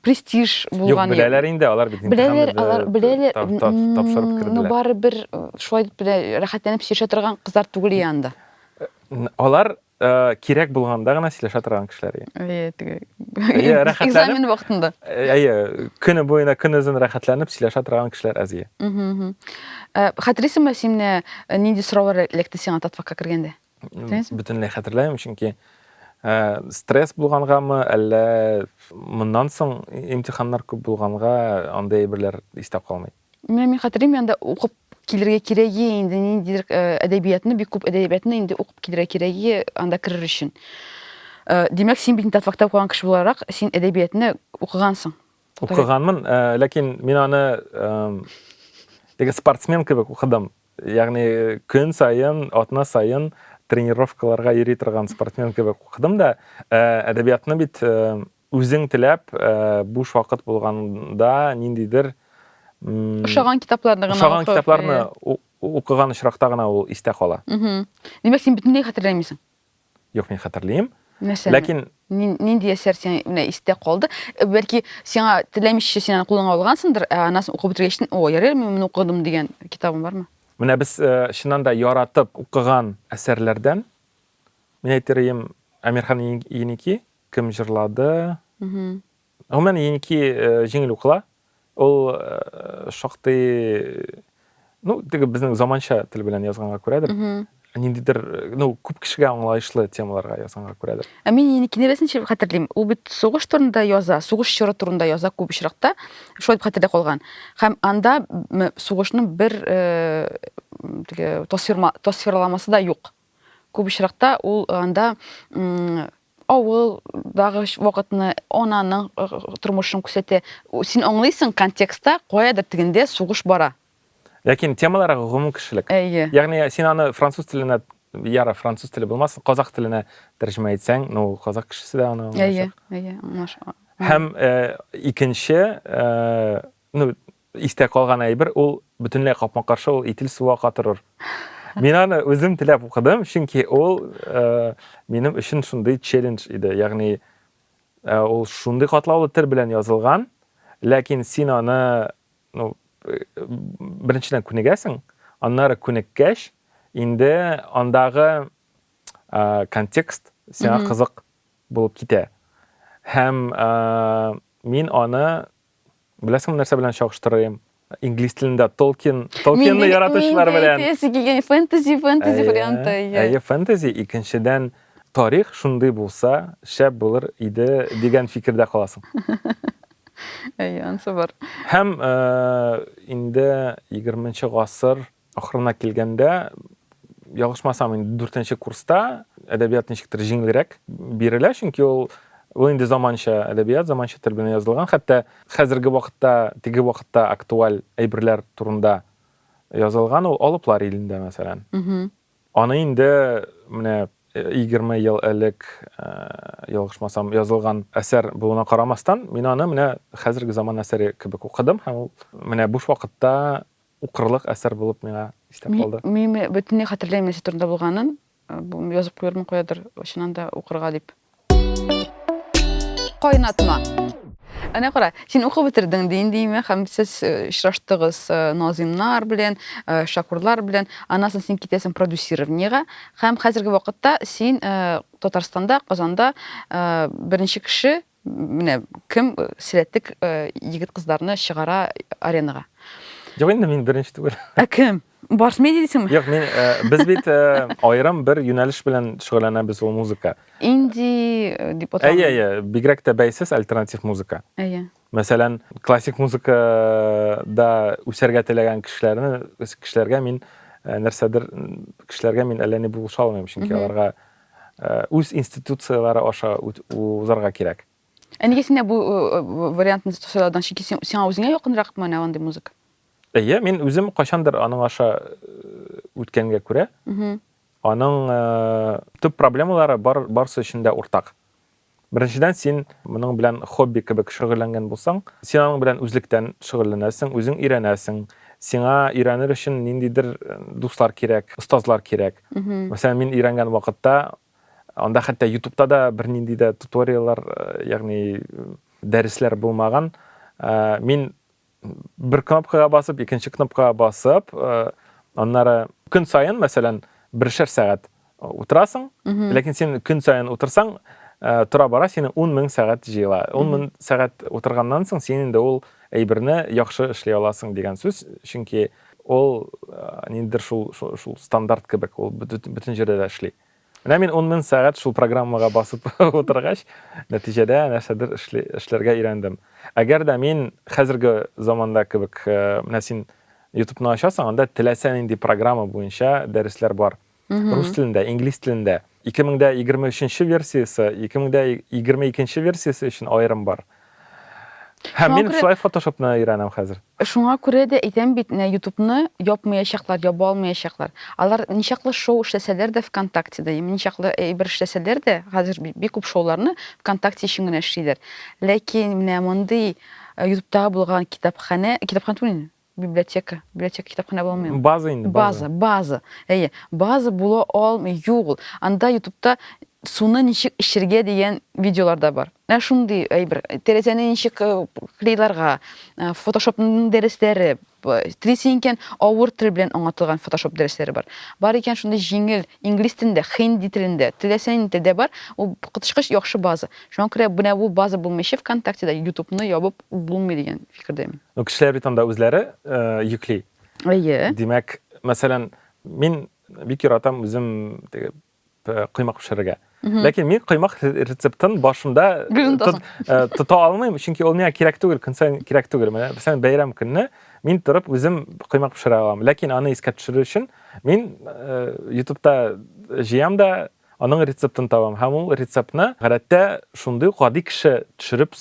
Престиж булган. Юк, беләләр инде, алар бит Беләләр, алар беләләр. Тапшырып керделәр. Ну бары бер шулай дип рәхәтләнеп сөйләшә торган кызлар түгел янда. Алар кирәк булганда гына сөйләшә торган кешеләр экзамен вакытында әйе көне буена көнозын рәхәтләнеп сөйләшә торган кешеләр аз хәтерлисеңме син нинди сораулар эләкте сиңа татфакка кергәндә бөтенләй хәтерләмим чөнки стресс булгангамы әллә моннан соң имтиханнар күп булганга андый әйберләр истә калмый Менә мин хәтерлим, анда укып килергә кирәге инде ниндидер э, әдәбиятны, бик күп әдәбиятны инде укып килергә кирәге анда керер өчен. Э, Димәк, син бит Татфакта укыган кеше буларак, син әдәбиятны укыгансың. Укыганмын, э, ләкин мин аны теге спортсмен кебек укыдым. Ягъни көн сайын, атна сайын тренировкаларга йөри торган спортсмен кебек укыдым да, әдәбиятны бит Үзең теләп, буш вакыт булганда ниндидер ошаган китапларны гына ошаган китапларны укыган очракта гына ул истә кала. Димәк, син бөтенләй хәтерләмисең? Юк, мин хәтерлим. Нәрсәне? Ләкин нинди әсәр сиңа менә истә калды? Э, бәлки сиңа теләмичә син аны кулыңа алгансыңдыр, ә анасын укып бетергәчтен, о, ярый, мин моны укыдым дигән китабың бармы? Менә без э, чыннан да яратып укыган әсәрләрдән мин әйтерем Әмирхан Еники Кем җырлады? Гомумән, Еники җиңел укыла. Ул шактый, ну, теге безнең заманча тел белән язганга күрәдер. Ниндидер, ну, күп кешегә аңлаешлы темаларга язганга күрәдер. Ә мин Еникине рәсенчә хәтерлим. Ул бит сугыш турында яза, сугыш чоры турында яза күп очракта. Шулай дип хәтердә калган. Һәм анда сугышның бер теге тасвирламасы да юк. Күп очракта ул анда Авыл дагы вакытны, ананың тормышын күрсәтә. Син аңлыйсың, контекстта каядыр тегендә сугыш бара. Ләкин темалар гомум кешелек. Әйе. Ягъни син аны француз теленә, яра француз теле булмасын, казах теленә тәрҗемә итсәң, ну казах кешесе дә аны аңлаячак. Әйе, әйе, аңлашыла. Һәм икенче, Ну, истә калган әйбер ул бөтенләй капма-каршы ул итил суга катырыр. Мин аны үзем теләп укыдым, чөнки ул э, минем өчен шундый челлендж иде. Ягъни э, ул шундый катлаулы тел белән язылган, ләкин син аны ну, э, беренчедән күнегәсең, аннары күнеккәч, инде андагы э, контекст сиңа кызык булып китә. Һәм э, мин аны Беләсең, нәрсә белән чагыштырыйм? Инглиз телендә Толкин, Толкинны яратучылар белән. Мин әйтәсе килгән фэнтези, фэнтези варианты. Әйе, фэнтези, икенчедән, тарих шундый булса, шәп булыр иде дигән фикердә каласың. Әйе, ансы бар. Һәм инде 20 нчы гасыр Ахырына килгәндә, ялгышмасам, инде дүртенче курста әдәбият ничектер җиңелрәк бирелә, чөнки ул ул инде заманча әдәбият, заманча тел белән язылган. Хәтта хәзерге вакытта, теге вакытта актуаль әйберләр турында язылган ул Алыплар илендә, мәсәлән. Аны инде менә 20 ел элек ялгышмасам язылган әсәр булуына карамастан, мин аны менә хәзерге заман әсәре кебек укыдым һәм ул менә буш вакытта Укырлык әсәр булып миңа истә калды. Мин бөтенләй хәтерләмим нәрсә турында булганын. Язып куярмын куядыр, чыннан да укырга дип. Кайнатма. Әнә кара, син укып бетердең, дин димә, һәм сез очраштыгыз Назимнар белән, Шакурлар белән. Аннан соң син китәсең продюсированиегә, һәм хәзерге вакытта син Татарстанда, Казанда беренче кеше Менә кем сәләтлек егет-кызларны чыгара аренага? Юк инде мин беренче түгел. Ә кем? Барс медиа дисеңме? Юк, мин без бит аерым бер юнәлеш белән шөгыльләнәбез ул музыка. Инди дип аталган. Әйе, әйе, бигрәк тә бәйсез альтернатив музыка. Әйе. Мәсәлән, классик музыкада үсәргә теләгән кешеләрне кешеләргә мин нәрсәдер кешеләргә мин әллә ни булыша алмыйм, чөнки аларга үз институцияләре аша узарга кирәк. Ә нигә синдә бу вариантны сайлаудан чөнки сиңа үзеңә якынрак менә андый музыка? Әйе, мин үзем кайчандыр аның аша үткәнгә күрә, аның төп проблемалары барысы өчен дә уртак. Беренчедән, син моның белән хобби кебек шөгыльләнгән булсаң, син аның белән үзлектән шөгыльләнәсең, үзең өйрәнәсең. Сиңа өйрәнер өчен ниндидер дуслар кирәк, остазлар кирәк. Мәсәлән, мин өйрәнгән вакытта анда хәтта ютубта да бернинди дә туториаллар, ягъни дәресләр булмаган. Мин бер кнопкага басып, икенче кнопкага басып, э, аннары көн саен, мәсәлән, бершәр сәгать утырасың, ләкин син көн саен утырсаң, э, тора бара сине 10 мең сәгать җыела. 10 мең сәгать утырганнан соң син инде ул әйберне яхшы эшли аласың дигән сүз, чөнки ул э, ниндидер шул, шул, шул стандарт кебек, ул бөтен җирдә дә эшли. Менә мин ун мең сәгать шул программага басып утыргач, нәтиҗәдә нәрсәдер эшләргә өйрәндем. Әгәр дә мин хәзерге заманда кебек, менә син ютубны ачасың, анда теләсә нинди программа буенча дәресләр бар. Рус телендә, инглиз телендә. 2023 нче версиясе, 2022 нче версиясе өчен аерым бар. Һәм Шуңа мин күрә- шулай фотошопны өйрәнәм хәзер. Шуңа күрә дә әйтәм бит, менә Ютубны япмаячаклар, яба алмаячаклар. Алар ничаклы шоу эшләсәләр дә ВКонтактеда, яме ничаклы әйбер эшләсәләр дә, хәзер би- бик күп шоуларны ВКонтакте өчен генә эшлиләр. Ләкин менә мондый э, Ютубтагы булган китапханә, китапханә түгел инде, библиотека библиотека китапханә була алмыймы база инде база база әйе база була алмый юк ул анда ютубта суны ничек эчергә дигән видеолар да бар ә шундый әйбер тәрәзәне ничек э, клейларга э, фотошопның дәресләре телисең икән авыр тел белән аңлатылган фотошоп дәресләре бар бар икән шундый җиңел инглиз телендә хинди телендә теләсә нинди телдә бар ул коточкыч яхшы база шуңа күрә менә бу база булмыйча вконтактеда ютубны ябып Булмый дигән фикердәмен. Ну, кешеләр бит анда үзләре йөкли. Әйе. Димәк, мәсәлән, мин бик яратам үзем теге коймак пешерергә. Ләкин мин коймак рецептын башында тота алмыйм, чөнки ул миңа кирәк түгел, көн саен кирәк түгел. Менә бисән бәйрәм көнне мин торып үзем коймак пешерә алам. Ләкин аны искә төшерер өчен мин YouTube'та җыям да, Аның рецептын табам һәм ул рецептны гадәттә шундый ук гади кеше төшереп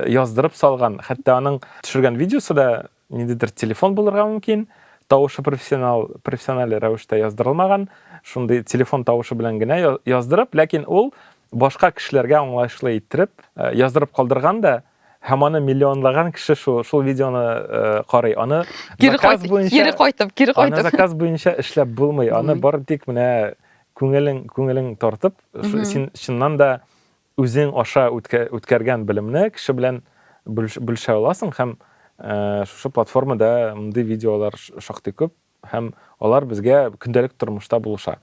яздырып салган. Хәтта аның төшергән видеосы да ниндидер телефон булырга мөмкин, тавышы профессионал профессиональ рәвештә яздырылмаган, шундый телефон тавышы белән генә яздырып, ләкин ул башка кешеләргә аңлаешлы иттереп яздырып калдырган да, Һәм аны миллионлаган кеше шул, шул видеоны э, карый. Аны кире заказ кайт, буенча... Кире кайтып, кире кайтып. Аны заказ буенча эшләп булмый. Аны бар тик менә күңелең, күңелең тартып, син чыннан да үзең аша үткәргән белемне кеше белән бүлешә аласың һәм э, шушы платформада мондый видеолар шактый күп. Һәм алар безгә көндәлек тормышта булыша.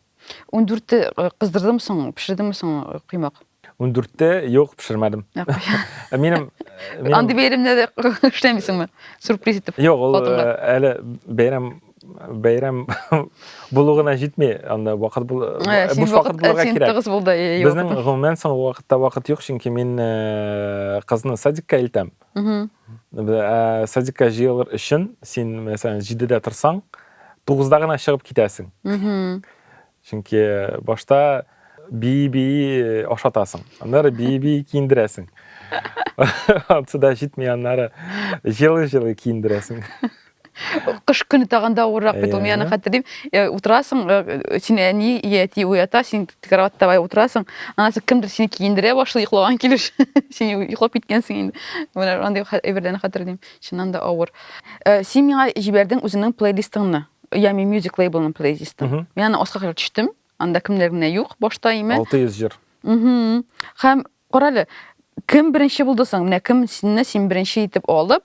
Ундүртте кыздырдымы соң, пешердеңме соң коймак? Ундүртте юк, пешермәдем. Минем Андый бәйрәмдә дә эшләмисеңме? Сюрприз итеп. Юк, ул әле бәйрәм бәйрәм булу гына җитми, анда вакыт бул буш вакыт булырга кирәк. Син тыгыз булды. Безнең гомумән соң вакытта вакыт юк, чөнки мин кызны садикка илтәм. ә, садикка җыелыр өчен син мәсәлән җидедә торсаң тугызда гына чыгып китәсең чөнки башта бии бии ашатасың аннары бии бии киендерәсең ансыда җитми аннары җылы җылы киендерәсең Кыш көне тагын да авыррак бит ул. Мин аны хәтерлим. Э, утырасың, э, син әни я әти уята, син кроватьта бай утырасың. Анасы кемдер сине киендерә башлый йоклаган килеш. Син йоклап киткәнсең инде. Менә андый әйберләрне хәтерлим. Чыннан да авыр. Э, син миңа җибәрдең үзеңнең плейлистыңны. Ями Music Label-ның плейлистын. Мин аны аска кадәр төштем. Анда кемнәр генә юк башта име. 600 җыр. Һәм карале, кем беренче булды соң? Менә кем синне син беренче итеп алып,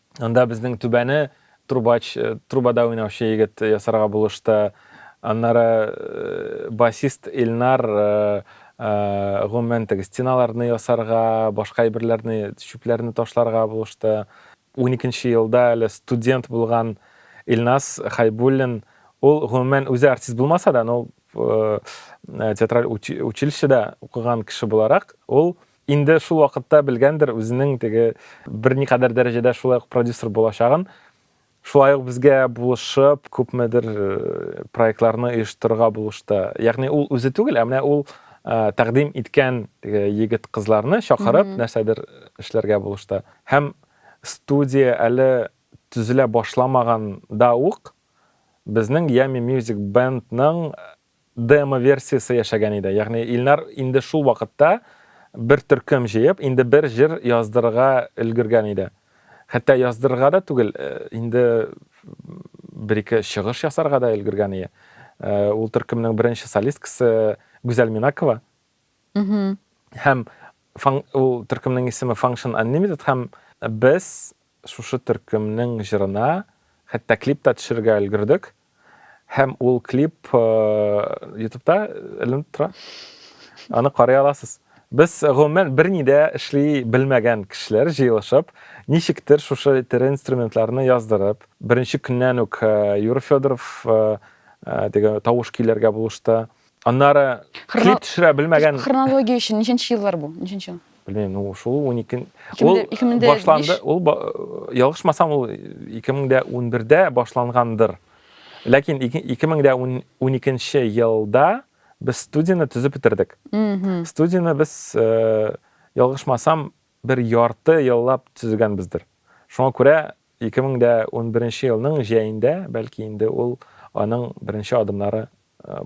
Анда безнең түбәне трубач, э, трубада уйнаучы егет ясарга булышты. Аннары э, басист Илнар э, э, гомумән теге стеналарны ясарга, башка әйберләрне, чүпләрне ташларга булышты. 12 елда әле студент булган Илнас Хайбуллин, ул гомумән үзе артист булмаса да, но э, театраль учи- училищеда укыган кеше буларак, ул Инде шул вакытта белгәндер үзенең теге берникадәр дәрәҗәдә шулай ук продюсер булачагын. Шулай ук безгә булышып, күпмедер проектларны оештырырга булышты. Ягъни ул үзе түгел, ә менә ул тәкъдим иткән теге егет-кызларны чакырып, нәрсәдер эшләргә булышты. Һәм студия әле төзелә башламаганда ук безнең Yummy Music Band-ның Демо версиясе яшәгән иде. Ягъни Илнар инде шул вакытта бер төркем җыеп, инде бер җыр яздырырга өлгергән иде. Хәтта яздырырга да түгел, инде бер-ике чыгыш ясарга да өлгергән ие. Ул төркемнең беренче солисткасы Гүзәл Минакова. Һәм ул төркемнең исеме Function Unlimited һәм без шушы төркемнең җырына хәтта клип та төшерергә өлгердек. Һәм ул клип э, ютубта эленеп тора. Аны карый аласыз. Без гомумән берни дә эшли белмәгән кешеләр җыелышып, ничектер шушы тере инструментларны яздырып, беренче көннән үк э, Юра Федоров э, э, теге тавыш көйләргә булышты. Аннары Хрона... клип төшерә белмәгән. Хронология өчен ничәнче еллар бу? Ничәнче ел? Белмим, ну шул 12 ул башланды, ул ялгышмасам ул 2011-дә башлангандыр. Ләкин 2012 елда без студияне төзеп бетердек. Студияне без ялгышмасам бер ярты еллап төзегәнбездер. Шуңа күрә Ике мең дә унберенче елның җәендә, бәлки инде ул аның беренче адымнары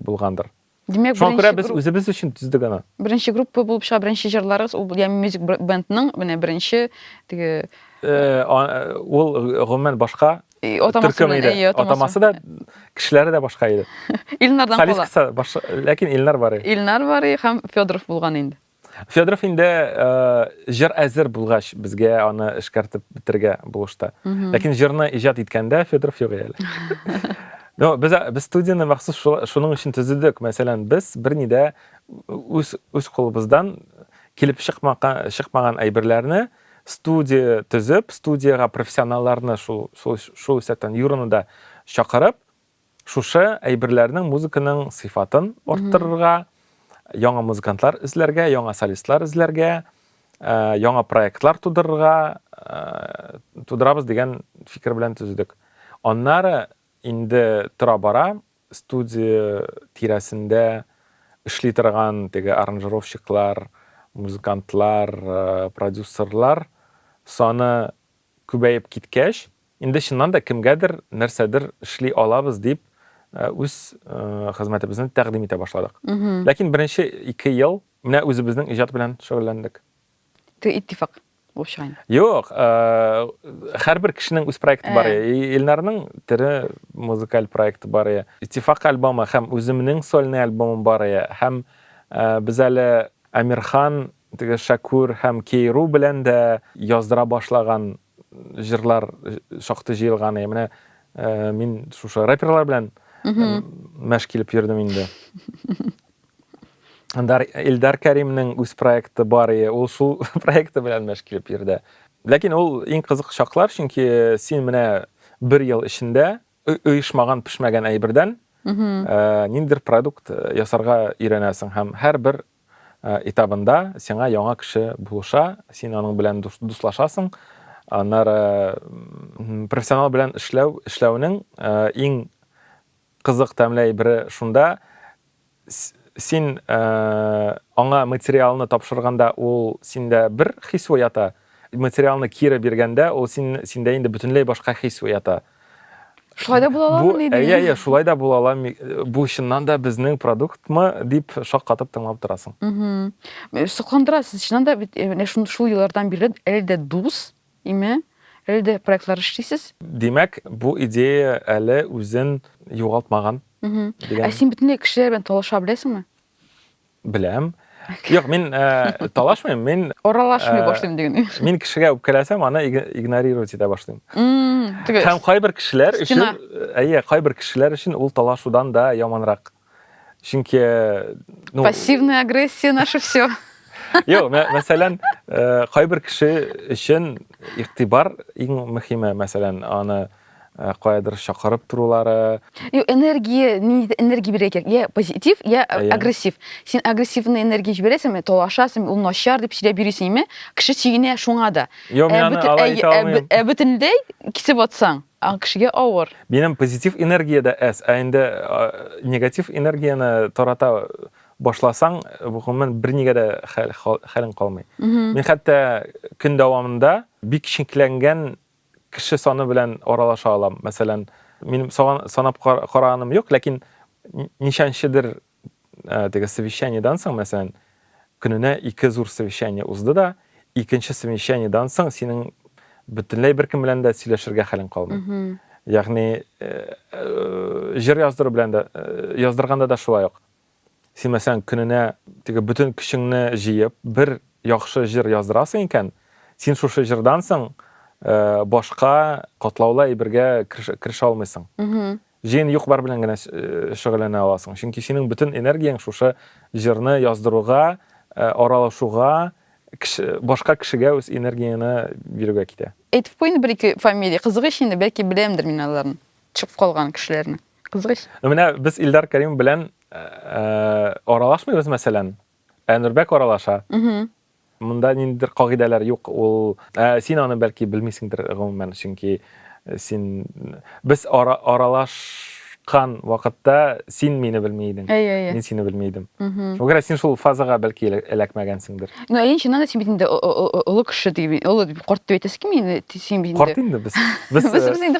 булгандыр. Димәк, Шуңа күрә без үзебез өчен төздек аны. Беренче группа булып чыга, беренче җырларыгыз ул Ями Music Band-ның менә беренче теге ул гомумән башка төркем иде. Атамасы да, кешеләре дә башка иде. Илнардан кала. Солисткасы, ләкин Илнар Барый. Илнар Барый һәм Федоров булган инде. Федоров инде җыр әзер булгач, безгә аны эшкәртеп бетерергә булышты. Ләкин җырны иҗат иткәндә Федоров юк әле. Но без без студияне махсус шуның өчен төзедек. Мәсәлән, без берни дә үз үз кулыбыздан килеп чыкмаган чыкмаган әйберләрне студия төзеп, студиягә профессионалларны шул шул шул исәптән юрыны да чакырып, Шушы әйберләрнең музыканың сыйфатын арттырырга, яңа музыкантлар эзләргә, яңа солистлар эзләргә, э, яңа проектлар тудырырга э, тудырабыз дигән фикер белән төзедек. Аннары инде тора-бара студия тирәсендә эшли торган теге аранжировщиклар, музыкантлар, э, продюсерлар саны күбәеп киткәч, инде чыннан да кемгәдер нәрсәдер эшли алабыз дип үз хезмәтебезне тәкъдим итә башладык. Ләкин беренче ике ел менә үзебезнең иҗат белән шөгыльләндек. Ты иттифак булып чыга инде. Юк, һәрбер кешенең үз проекты бар. Илнарның тере музыкаль проекты бар. Иттифак альбомы һәм үземнең сольный альбомым бар. Һәм без әле Әмирхан Теге Шәкүр һәм Кейру белән дә яздыра башлаган җырлар шактый җыелган. Ә менә мин шушы рэперлар белән мәш килеп йөрдем инде. Дар Илдар Кәримнең үз проекты бар, и ул шул проекты белән мәш килеп йөрде. Ләкин ул иң кызык чаклар, чөнки син менә бер ел эчендә оешмаган, пешмәгән әйбердән ниндидер продукт ясарга өйрәнәсең һәм һәрбер этабында сиңа яңа кеше булыша, син аның белән дуслашасың, аннары профессионал белән эшләү, эшләүнең иң кызык тәмле әйбере шунда, син аңа материалны тапшырганда ул синдә бер хис уята, Материалны кире биргәндә, ул син, синдә инде бөтенләй башка хис уята. Шулай да була аламы ни дигән? Әйе, әйе, шулай да була алам. Бу чыннан да безнең продуктмы дип шаккатып тыңлап торасың. Сокландыра, сез чыннан да бит менә шул еллардан бирле әле дә дус, име, әле дә проектлар эшлисез. Димәк, бу идея әле үзен югалтмаган. Ә син бөтенләй кешеләр белән талаша беләсеңме? Беләм. Юк, мин э, талашмыйм, мин Аралашмый Э, башлыйм дигән. мин кешегә үпкәләсәм, аны иг- игнорировать итә башлыйм. Мм, Һәм теге кайбер кешеләр өчен, Стена. әйе, кайбер кешеләр өчен ул талашудан да яманрак. Чөнки э, ну, пассивная агрессия наше все. Юк, мә- мәсәлән, э, кайбер кеше өчен игътибар иң мөһиме, мәсәлән, аны Э, каядыр чакырып торулары юк энергия ниндидер энергия бирә кирәк я позитив я э, агрессив син агрессивный энергия җибәрәсеңме талашасың ул начар дип сөйләп йөрисеңме кеше чигенә шуңа да юк мин аны алай итә алмыйм ә бөтенләй кисеп атсаң кешегә авыр минем позитив энергия дә әз ә инде э, негатив энергияне тарата башласаң гомумән бернигә дә хәлең калмый мин хәтта көн дәвамында бик шинкләнгән кеше саны белән аралаша алам. Мәсәлән, минем санап караганым юк, ләкин ничәнчедер э, теге совещаниедан соң, мәсәлән, көненә ике зур совещание узды да, икенче совещаниедан соң синең бөтенләй беркем белән дә сөйләшергә хәлең калмый. Ягъни э, э, җыр яздыру белән дә, яздырганда да шулай ук. Симәсәң, көненә теге бөтен көчеңне җыеп, бер яхшы җыр яздырасың икән, син шушы җырдан соң э, башка катлаулы әйбергә керешә алмыйсың. Җыен юк-бар белән генә э, шөгыльләнә аласың. Чөнки синең бөтен энергияң шушы җырны яздыруга, э, аралашуга, кеше, башка кешегә үз энергияне бирүгә китә. Әйтеп куйын бер-ике фамилия, кызык ич инде, бәлки беләмдер мин аларны, чыгып калган кешеләрне. Кызгач. Ну менә без Илдар Кәрим белән э, э, аралашмыйбыз, мәсәлән. Ә Нурбәк аралаша. Угу. Монда ниндидер кагыйдәләр юк. Ул ә, син аны бәлки белмисеңдер гомумән, чөнки э, син без ара, аралашкан вакытта син мине белми идең. Әйе, әйе. Мин сине белми идем. Угу. Шуңа күрә син шул фазага бәлки элә- эләкмәгәнсеңдер. Ну, әйе, чыннан да син бит инде о- о- о- олы кеше дип, олы дип, карт дип әйтәсе килми инде, ти- син бит инде. Карт инде без. Без, Без э, без инде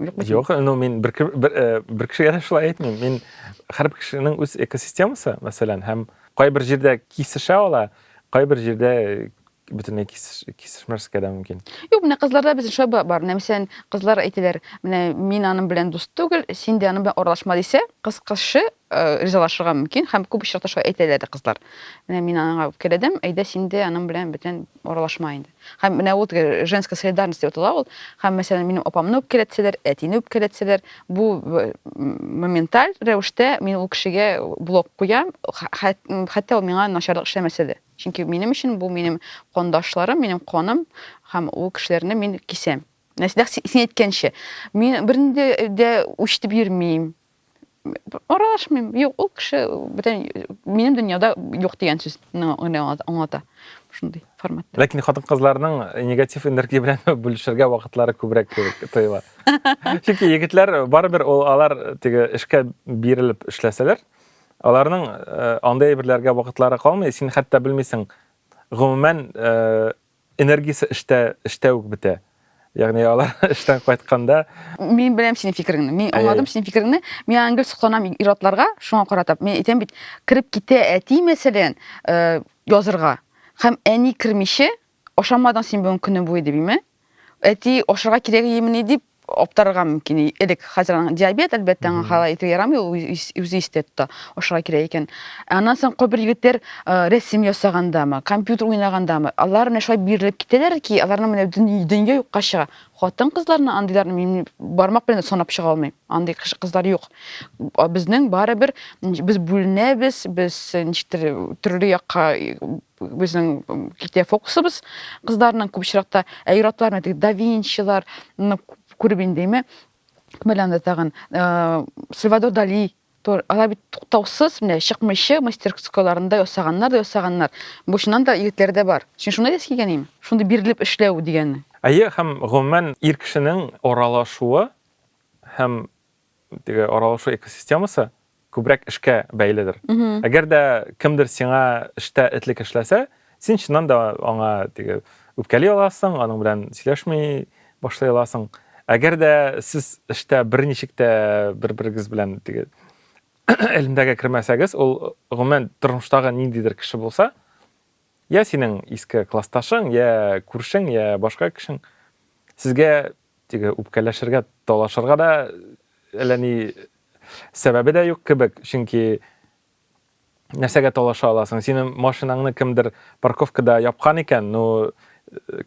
Юкмы? Юк, ну мин бер бер, э, бер кешегә дә шулай әйтмим. Мин һәр кешенең үз экосистемасы, мәсәлән, һәм кайбер җирдә кисешә ала, кайбер җирдә бөтенләй кисешмәскә дә мөмкин. Юк, менә кызларда безнең шулай бар. Менә мәсәлән, кызлар әйтәләр, менә мин аның белән дус түгел, син дә аның белән аралашма дисә, кыз кызчы ризалашырга мөмкин һәм күп очракта шулай әйтәләр дә кызлар. Менә мин аңа үпкәләдем, әйдә син дә аның белән бүтән аралашма инде. Һәм менә ул женская солидарность дип атала ул. Һәм мәсәлән, минем апамны үпкәләтсәләр, әтине үпкәләтсәләр, бу моменталь рәвештә мин ул кешегә блок куям, хәтта ул миңа начарлык эшләмәсә дә. Чөнки минем өчен бу минем кандашларым, минем каным һәм ул кешеләрне мин кисәм. Нәрсә син әйткәнчә, мин бернинди дә үч дип йөрмим. аралашмыйм юк ул кеше бүтән минем дөньяда юк дигән сүз аңлата шундый форматта ләкин хатын кызларның негатив энергия белән бүлешергә вакытлары күбрәк кебек тоела чөнки егетләр барыбер ул алар теге эшкә бирелеп эшләсәләр аларның э, андый әйберләргә вакытлары калмый син хәтта белмисең гомумән э, Энергиясе эштә, эштә үк бетә. Ягъни алар эштән кайтканда Мин беләм синең фикереңне. Мин Әй-әй. аңладым синең фикереңне. Мин аны гел сокланам ир-атларга шуңа каратып. Мин әйтәм бит, кереп китә әти, мәсәлән, э, язырга. Һәм әни кермичә, ашамадың син бүген көне буе дибиме? Әти ашарга кирәгиемени дип, Аптырарга мөмкин. И- Элек хәзер аның диабет, әлбәттә, аңа Мгм. халай итү ярамый, ул үз- үз- үзе истә тота. Ашарга кирәк икән. Ә аннан соң кайбер егетләр э, рәсем ясагандамы, компьютер уйнагандамы, алар менә шулай бирелеп китәләр ки, аларның менә дөнья, дөнья юкка чыга. Хатын-кызларны андыйларны мин бармак белән дә санап чыга алмыйм. Андый кыш- кызлар юк. А Безнең барыбер м, без бүленәбез, без э, ничектер э, төрле якка э, Безнең китә фокусыбыз кызларның күп очракта, ә ир-атлар менә да Винчилар, күреп индеме? Кемәл анда тагын э, Сальвадор Дали алар бит туктаусыз менә чыкмыйчы мастерскойларында ясаганнар да ясаганнар. Бу чыннан да егетләр дә бар. Син шуны әйтәсе килгән инеме? Шундый бирелеп эшләү дигәнне. Әйе, һәм гомумән ир кешенең аралашуы һәм теге аралашу экосистемасы күбрәк эшкә бәйледер. Әгәр дә кемдер сиңа эштә этлек эшләсә, син чыннан да аңа теге үпкәли аласың, аның белән сөйләшми башлый аласың. Әгәр дә сез эштә берничек тә бер-берегез белән теге элемдәгә кермәсәгез, ул гомумән тормыштагы ниндидер кеше булса, я синең иске классташың, я күршең, я башка кешең, сезгә Теге үпкәләшергә, талашырга да әллә ни сәбәбе дә юк кебек, чөнки нәрсәгә талаша аласың? Синең машинаңны кемдер парковкада япкан икән, ну,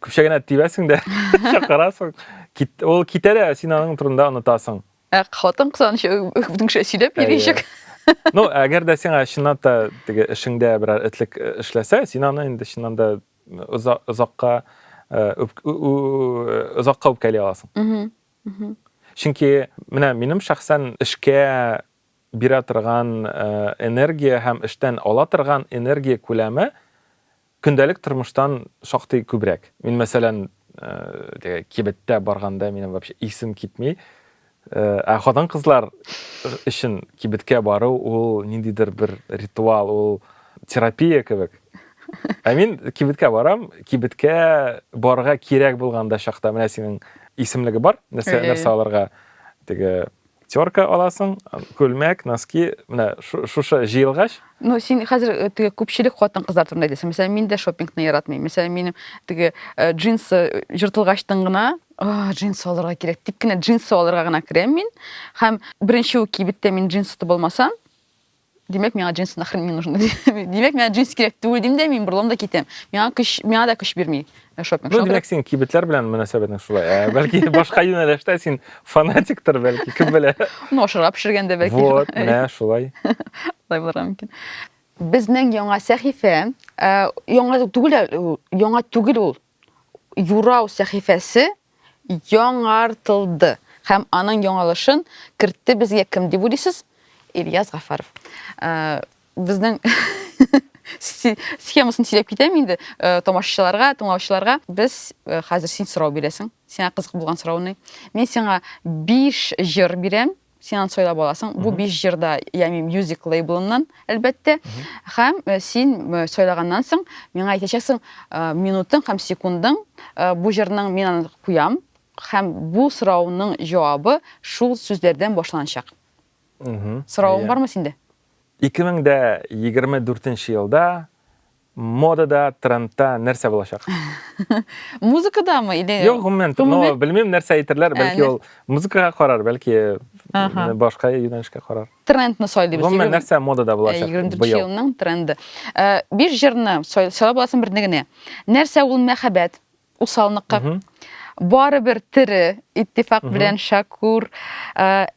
күпчә генә тибәсең дә, чакырасың. Кит, ул китә дә, син аның турында онытасың. Ә хатын кызганыч үтенкшә сөйләп йөричек. Ну, әгәр дә сиңа чыннан да теге эшеңдә берәр этлек эшләсә, син аны инде чыннан да озакка озакка үпкәли аласың чөнки менә минем шәхсән эшкә бирә торган энергия һәм эштән ала торган энергия күләме көндәлек тормыштан шактый күбрәк мин мәсәлән кибеттә барганда минем вообще исем китми Ә хатын-кызлар өчен кибеткә бару ул ниндидер бер ритуал, ул терапия кебек. Ә мин кибеткә барам, кибеткә барырга кирәк булганда чакта менә синең исемлеге бар, нәрсә нәрсә алырга. Теге терка аласың, күлмәк, носки, менә шушы җыелгач, Ну, син хәзер э, теге күпчелек хатын-кызлар турында әйтәсең. Мәсәлән, мин дә шопингны яратмыйм. Мәсәлән, минем теге э, джинсы э, җыртылгачтын гына, «А, джинсы алырга кирәк, дип кенә джинсы алырга гына керәм мин. Һәм беренче үк кибеттә мин джинс тотып алмасам, димәк, миңа джинсы нахрен не нужны. Димәк, миңа джинс кирәк түгел дим дә мин борылам да китәм. Миңа көч, миңа да көч бирми. Ә шопинг Ну, димәк, син кибетләр белән мөнәсәбәтең шулай. Ә, бәлки башка юнәлештә син фанатиктыр, бәлки, кем белә. Ну, ашырап пешергәндә бәлки. Вот, менә шулай. Шулай булырга мөмкин. Безнең яңа сәхифә, яңа түгел, яңа түгел ул. Юрау сәхифәсе яңартылды һәм аның яңалышын кертте безгә кем дип уйлыйсыз? Ильяс Гафаров. Э, безнең схемасын сөйләп китәм инде э, тамашачыларга, тыңлаучыларга. Без э, хәзер син сорау бирәсең. Сиңа кызык булган сорауны. Мин сиңа 5 җыр бирәм. Син аны сойлап аласың. Бу биш җырда, ягъни Music лейблыннан, әлбәттә. Һәм э, син э, сайлаганнан соң миңа әйтәчәксең э, минутың һәм секундың бу җырның мин аны куям һәм бу сорауның җавабы шул сүзләрдән башланачак. Соравың бармы синдә? 2024 елда Модада, трендта нәрсә булачак? Музыкадамы или? Юк, гомумән, ну, белмим, нәрсә әйтерләр, бәлки ул музыкага карар, бәлки башка юнәлешкә карар. Трендны сайлыйбыз. Гомумән, нәрсә модада булачак? 24 елның тренды. Биш җырны сайлап аласың берне генә. Нәрсә ул мәхәббәт? Усалныкка. Барыбер тере, иттифак белән Шакур.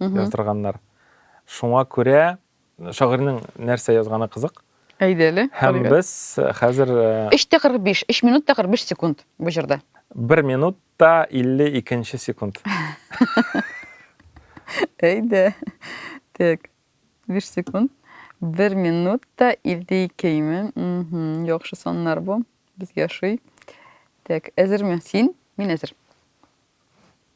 яздырганнар. Шуңа күрә шагыйрьнең нәрсә язганы кызык. Әйдә әле, Һәм карыйк әле. без хәзер э, 3 тә 45, 3 минут та 45 секунд бу җырда. бер минут та 52 нче секунд. Әйдә. Так. 5 секунд. Бер минут та 52 ме? Мгм. Яхшы саннар бу. Безгә ошый. Так, әзерме? Син? Мин әзер.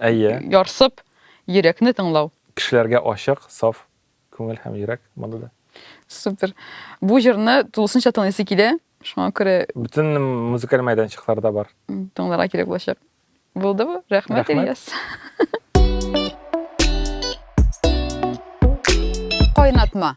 Әйе. Ярсып, йөрәкне тыңлау. Кешеләргә ачык, саф күңел һәм йөрәк монда да. Супер. Бу җырны тулысынча тыңлыйсы килә, шуңа күрә. Бөтен музыкаль мәйданчыкларда бар. Тыңларга кирәк булачак. Булдымы? Рәхмәт, Рәхмәт. Ильяс. Кайнатма.